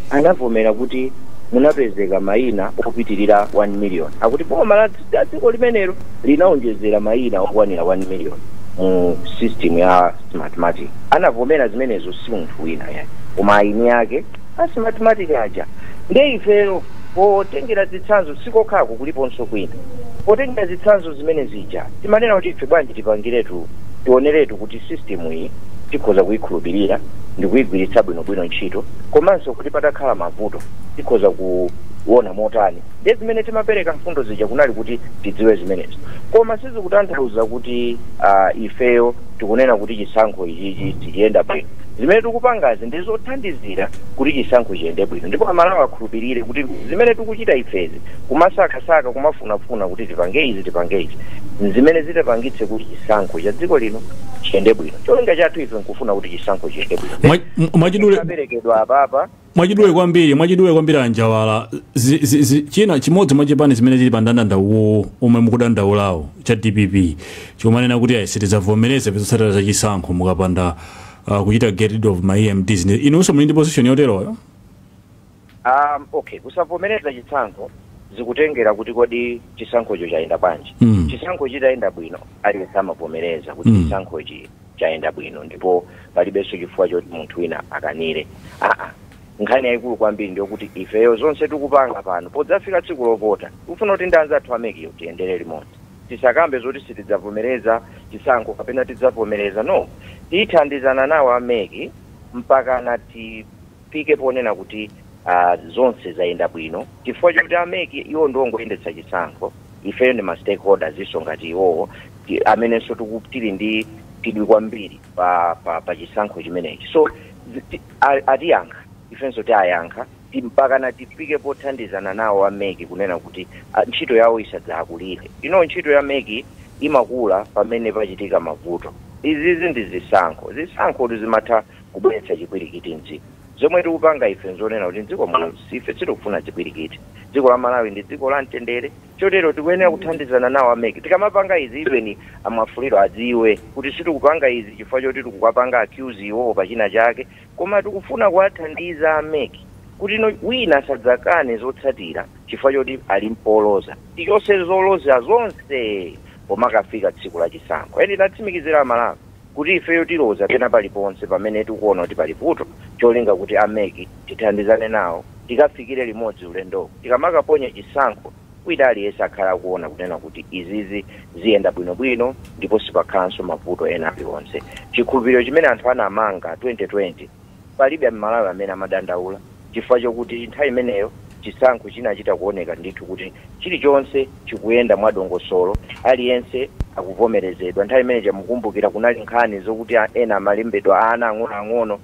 anavomera kuti munapezeka maina opitirira 1 million. Akuti boma la la dziko limenero linaonjezera maina okwanira 1 million mu system ya Smartmatic. Anavomera zimenezo si munthu wina ayi. Koma eni ake a Smartmatic aja ndiye ifeyo potengera zitsanzo sikokhako kuliponso kwina potengera zitsanzo zimene zija timanena kuti ife bwanji tipangiretu tioneretu kuti system iyi tikhoza kuyikhulupirira ndikuyigwiritsa bwinobwino ntchito komanso kuti patakhala mavuto tikhoza kuona motani ndiye zimene timapereka mfundo zija kunali kuti tidziwe zimenezo koma sizikutanthauza kuti uh, ifeyo tikunena kuti chisankho ichichi sichiyenda bwino Zimene tikupangazi ndi zothandizira kuti chisankho chiyende bwino ndipo Amalawi akhulupirire kuti zimene tikuchita ifezi, kumasakasaka, kumafunafuna kuti tipange izi tipange izi, n'zimene zitapangitse kuti chisankho cha dziko lino chiyende bwino. Cholinga chathu ife n'kufuna kuti chisankho chiyende bwino. Mwa- mwa- mwachidule, Chaperekedwa apapa mwachidule kwambiri mwachidule kwambiri a Njawala zi, zi, zi, china chimodzi mwa zipani zimene zili pa ndandanda uwowo omwe mukudandaulawo cha dpp chomanena kuti ayi sitidzavomereza zotsatira za chisankho mukapanda uh, kuchita get rid of ma EMDs Ndi- inunso muli ndi position yoteroyo um, okay kusavomereza chisankho zikutengera kuti kodi chisankhocho chayenda bwanji Mm. chisankho chitayenda bwino aliyense amavomereza kuti Mm. chisankhochi chayenda bwino ndipo palibenso chifukwa choti munthu wina akanire aa nkhani yayikulu kwambiri ndiyokuti ifeyo zonse tikupanga pano podzafika tsiku lovota tikufuna kuti ndi anzathu a mec yo tiyendere limodzi tisakambe zoti sitidzavomereza chisankho kapena tidzavomereza no tithandizana nawo a mec mpakana ti Tifike ponena kuti aah zonse zayenda bwino chifukwa choti a mec iwo ndi ongoyendetsa chisankho, ifeyo ndi ma stakeholders so ngati iwowo amenenso tiku tili ndi chidwi kwambiri pa pa pa chisankho chimenechi so ti a atiyankha ifenso tiayankha ti mpakana tifike pothandizana nawo a mec kunena kuti a ntchito yawo isadzaakulire. You know ntchito ya mec imakula pamene pachitika mavuto. Izizi ndi zisankho, zisankhotu zimatha kubweretsa chipwirikiti mdziko. Zomwe tikupanga ife nzonena kuti mdziko muno ife sitikufuna chipwirikiti. Dziko la Malawi ndi dziko la mtendere chotero tikuyenera kuthandizana nawo a mec tikamapanga izi even a Mwafulirwa adziwe kuti sitikupanga izi chifukwa choti tikuwapanga accuse iwowo pa china chake koma tikufuna kuwathandiza a mec kuti wina asadzakane zotsatira chifukwa choti ali mpoloza. Tichotse zolozera zonse pomakafika tsiku la chisankho. And tatsimikizira a Malawi. kuti ifeyo tiloza pena paliponse pamene tikuona kuti pali vuto cholinga kuti a mec tithandizane nawo tikafikire limodzi ulendowu tikamakaponya chisankho wina aliyense akhale akuona kunena kuti izizi ziyenda bwinobwino ndipo sipakhalanso mavuto ena alionse. Chikhulupiriro chimene anthu anamanga 2020. Palibe a Malawi amene amadandaula chifukwa chokuti nthawi imeneyo chisankho chinachita kuoneka ndithu kuti chilichonse chikuyenda mwa dongosolo, aliyense akuvomerezedwa. Nthawi imene ija mukukumbukira kunali nkhani zokuti ena amalembedwa ana ang'onoang'ono.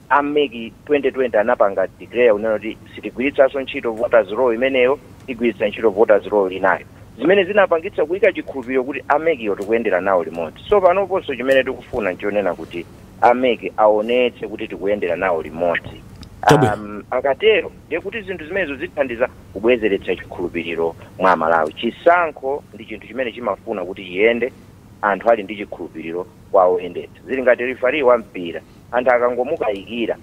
A mec 2020 anapanga declare kunena kuti sitigwiritsanso ntchito voters roll imeneyo, tigwiritsa ntchito voters roll inayo. Zimene zinapangitsa kuika chikhulupiriro kuti a mec wo tikuyendera nawo limodzi. So panoponso chimene tikufuna nchonena kuti. a mec aonetse kuti tikuyendera nawo limodzi Chabwino. um, akatero ndiye kuti zinthu zimenezo zithandiza kubwezeretsa chikhulupiriro mwa amalawi chisankho ndi chinthu chimene chimafuna kuti chiyende anthu ali ndi chikhulupiriro kwa oyendetsa zili ngati rifari wa mpira anthu akangomukayikira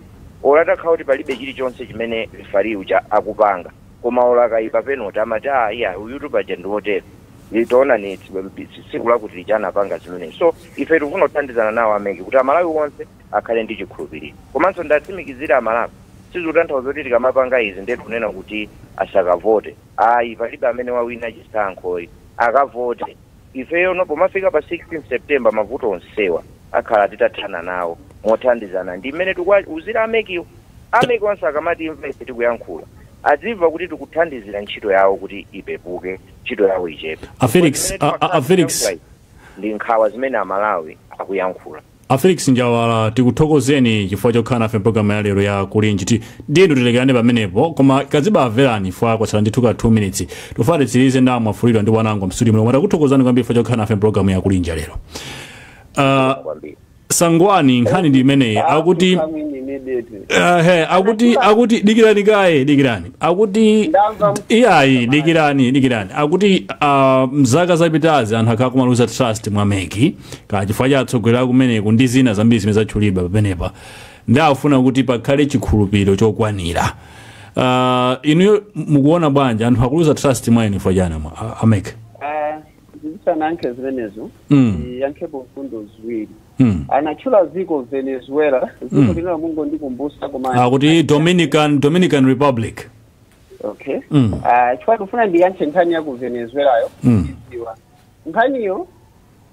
olo atakhala kuti palibe chilichonse chimene rifari uja akupanga koma olo akayimba penoti amati aah iya uyutu paja ndi wotere ndiye taonani tsiku lakuti lija anapanga zimenezi so ife tikufuna kuthandizana nawo a mec kuti amalawi onse akhale ndi chikhulupiliro komanso ndatsimikizira amalawi sizikutanthauza kuti tikamapanga izi ndiye tikunena kuti asakavote ayi palibe amene wawina chisankho ayi akavote Ifeyono pomafika pa 16 September mavuto onsewa akhala titathana nawo mothandizana ndi mmene tikuwauzira a MECwo. A mec onse akamatimva ife tikuyankhula adzimva kuti tikuthandizira ntchito yawo kuti ipepuke, ntchito yawo ichepe. A Chifukwa Felix, zimene a, a, a timakhala Felix. tikuyankhula izi ndi nkhawa zimene a Malawi akuyankhula. a felix njawala tikuthokozeni chifukwa chokhala nafe mpologalamu ya lero ya kulinji ndiyeno tilekerane pamenepo koma kazibamverani fwa kwatsala ndithu ka 2 minutes tofuna titsirize nawo a mwafulirwa ndi wanango mstudio muno koma takuthokozani kwambiri chifukwa chokhala nafe mpologalamu ya kulinji ya lero Ah, kwambiri sangwani nkhani ndi imeneyi akuti Come in immediately. Eh, he, akuti akuti dikirani kaye dikirani akuti Ndamva. iyayi dikirani dikirani akuti ah, mzaka zapitazi anthu akhala akumaluza trust mwa meki kaya chifukwa cha atsogoleri akumeneku ndi zina zambiri zimene zatchulidwa pamenepa ndi afuna kuti pakhale chikhulupiriro chokwanira uh, inuyo mukuona bwanji anthu akuluza trust mwa inu chifukwa chani amwa- ameke Ah, ndisanayankhe zimenezo Mm. ndiyankhepo mfundo ziwiri mm. anatchula dziko venezuela dziko linalo mungondikumbusa koma akuti dominican dominican republic okay Mm. Ah, chifukwa ndifuna ndiyankhe nkhani ya ku venezuelayo Mm. ndidziwa nkhaniyo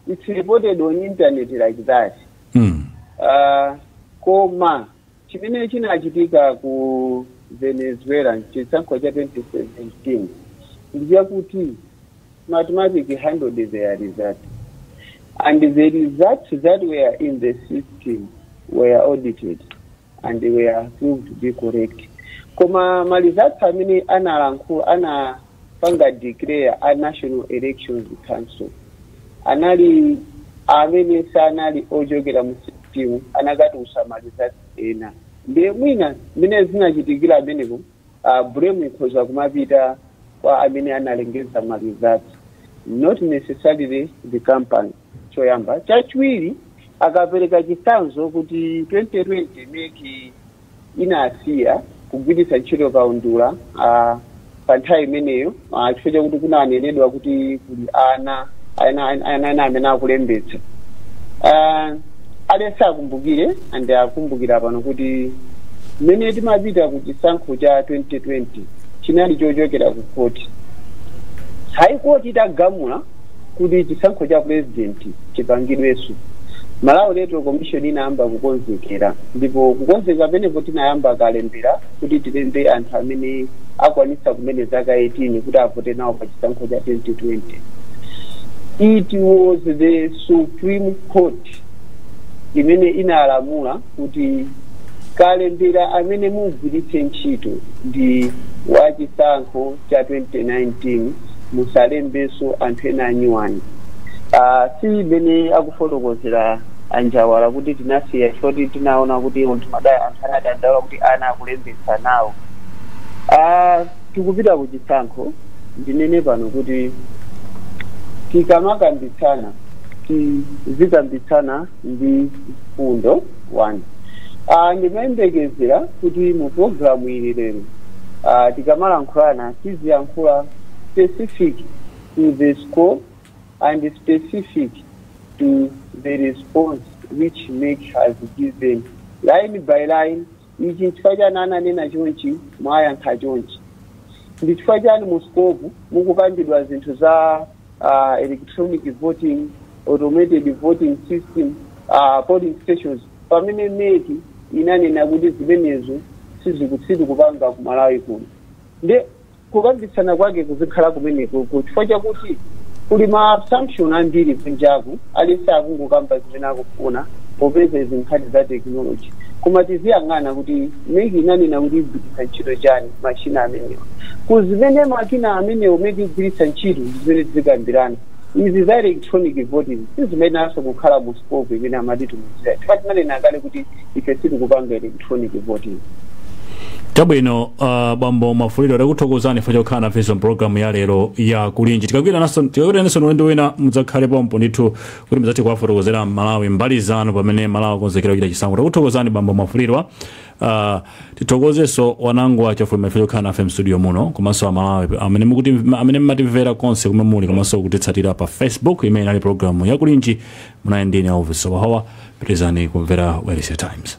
it's reported on internet like that Mm. Ah, koma chimene chinachitika ku venezuela mchisankho cha 2017 ndi chakuti Smartmatic handled their result and the result that were in the system were audited and they were proved to be correct koma ma results amene anapanga declare a national elections council anali amene sanali ochokera mu system anakatulutsa ma results ena ndiye mwina mmene zinachitikira amenepo uh, blame ikhoza kumapita kwa amene analengeza ma results not necessarily the company choyamba chachiwiri akapereka chitsanzo kuti 2020 meki inasiya kugwiritsa ntchito kaundula uh, pa nthawi imeneyo Ah, chifukwa chakuti kunanenedwa kuti kuli ana ana ana ana amene akulembetsa Ah, aliyense akumbukire ndi akumbukira pano kuti mmene timapita ku chisankho cha 2020 chinali chochokera ku khoti high court itagamula kuti chisankho cha president chipangidweso Malawi electoral commission inayamba kukonzekera ndipo kukonzekera penepo tinayamba kalembera kuti tilembe anthu amene akwanitsa kumene zaka 18 kuti avote nawo pa chisankho cha 2020 it was the supreme court imene inalamula kuti kalembera amene mugwiritse ntchito ndi wachisankho cha 2019 musalembenso anthu ena anyuwani uh, si imene akufotokozera a Njawala kuti tinasiya chifukwa choti tinaona kuti anthu mada- anthu anadandaula kuti ana akulembetsa nawo uh, tikupita ku chisankho ndinene pano kuti tikamakambitsana tizikambitsana ndi mfundo 1 uh, ndimayembekezera kuti mu programu iyi lero uh, tikamalankhulana tiziyankhula specific to the scope and specific to the response which meki has given line by line Ichi nchifukwa chani ananena chonchi mwayankha chonchi. Ndi chifukwa chani mu scope mukupangidwa zinthu za uh, electronic voting, automated voting system, uh, polling stations pamene mec inanena kuti zimenezo sizikupanga ku Malawi kuno. Nde kukambitsana kwake kuzikhala kumeneko chifukwa chakuti kuli ma assumption ambiri kunjaku aliyense akungokamba zimene akufuna popeza izi nkhani za technology koma tiziyang'ana kuti MEC inanena kuti igwiritsa ntchito chani machina amenewa ku zimene makina amenewo MEC igwiritsa ntchito ndi zimene tizikambirana izi za electronic voting sizimayenanso kukhala mu scope imene amatitumizira chifukwa tinanena kale kuti ife sitikupanga ele- electronic voting chabwino uh, bambo Mafulirwa takuthokozani chifukwa chokhala nafe mpulogalamu ya lero ya kulinji tikakwirananso ulendo wina mudzakhale pompo ndithu kuti mudzathe kuwafotokozera aMalawi mbali zanu pamene aMalawi akonzekera kuchita chisankho takuthokozani bambo mafulirwa uh, tithokozenso Wanangwa Chafulumira chifukwa chokhala nafe mstudio muno komanso amalawi amene mukuti amene mmatimvera konse kumene muli komanso kutitsatira pa facebook imene inali pulogalamu ya kulinji munali ndine Elvis wahawa pitirizani kumvera wailesi ya Times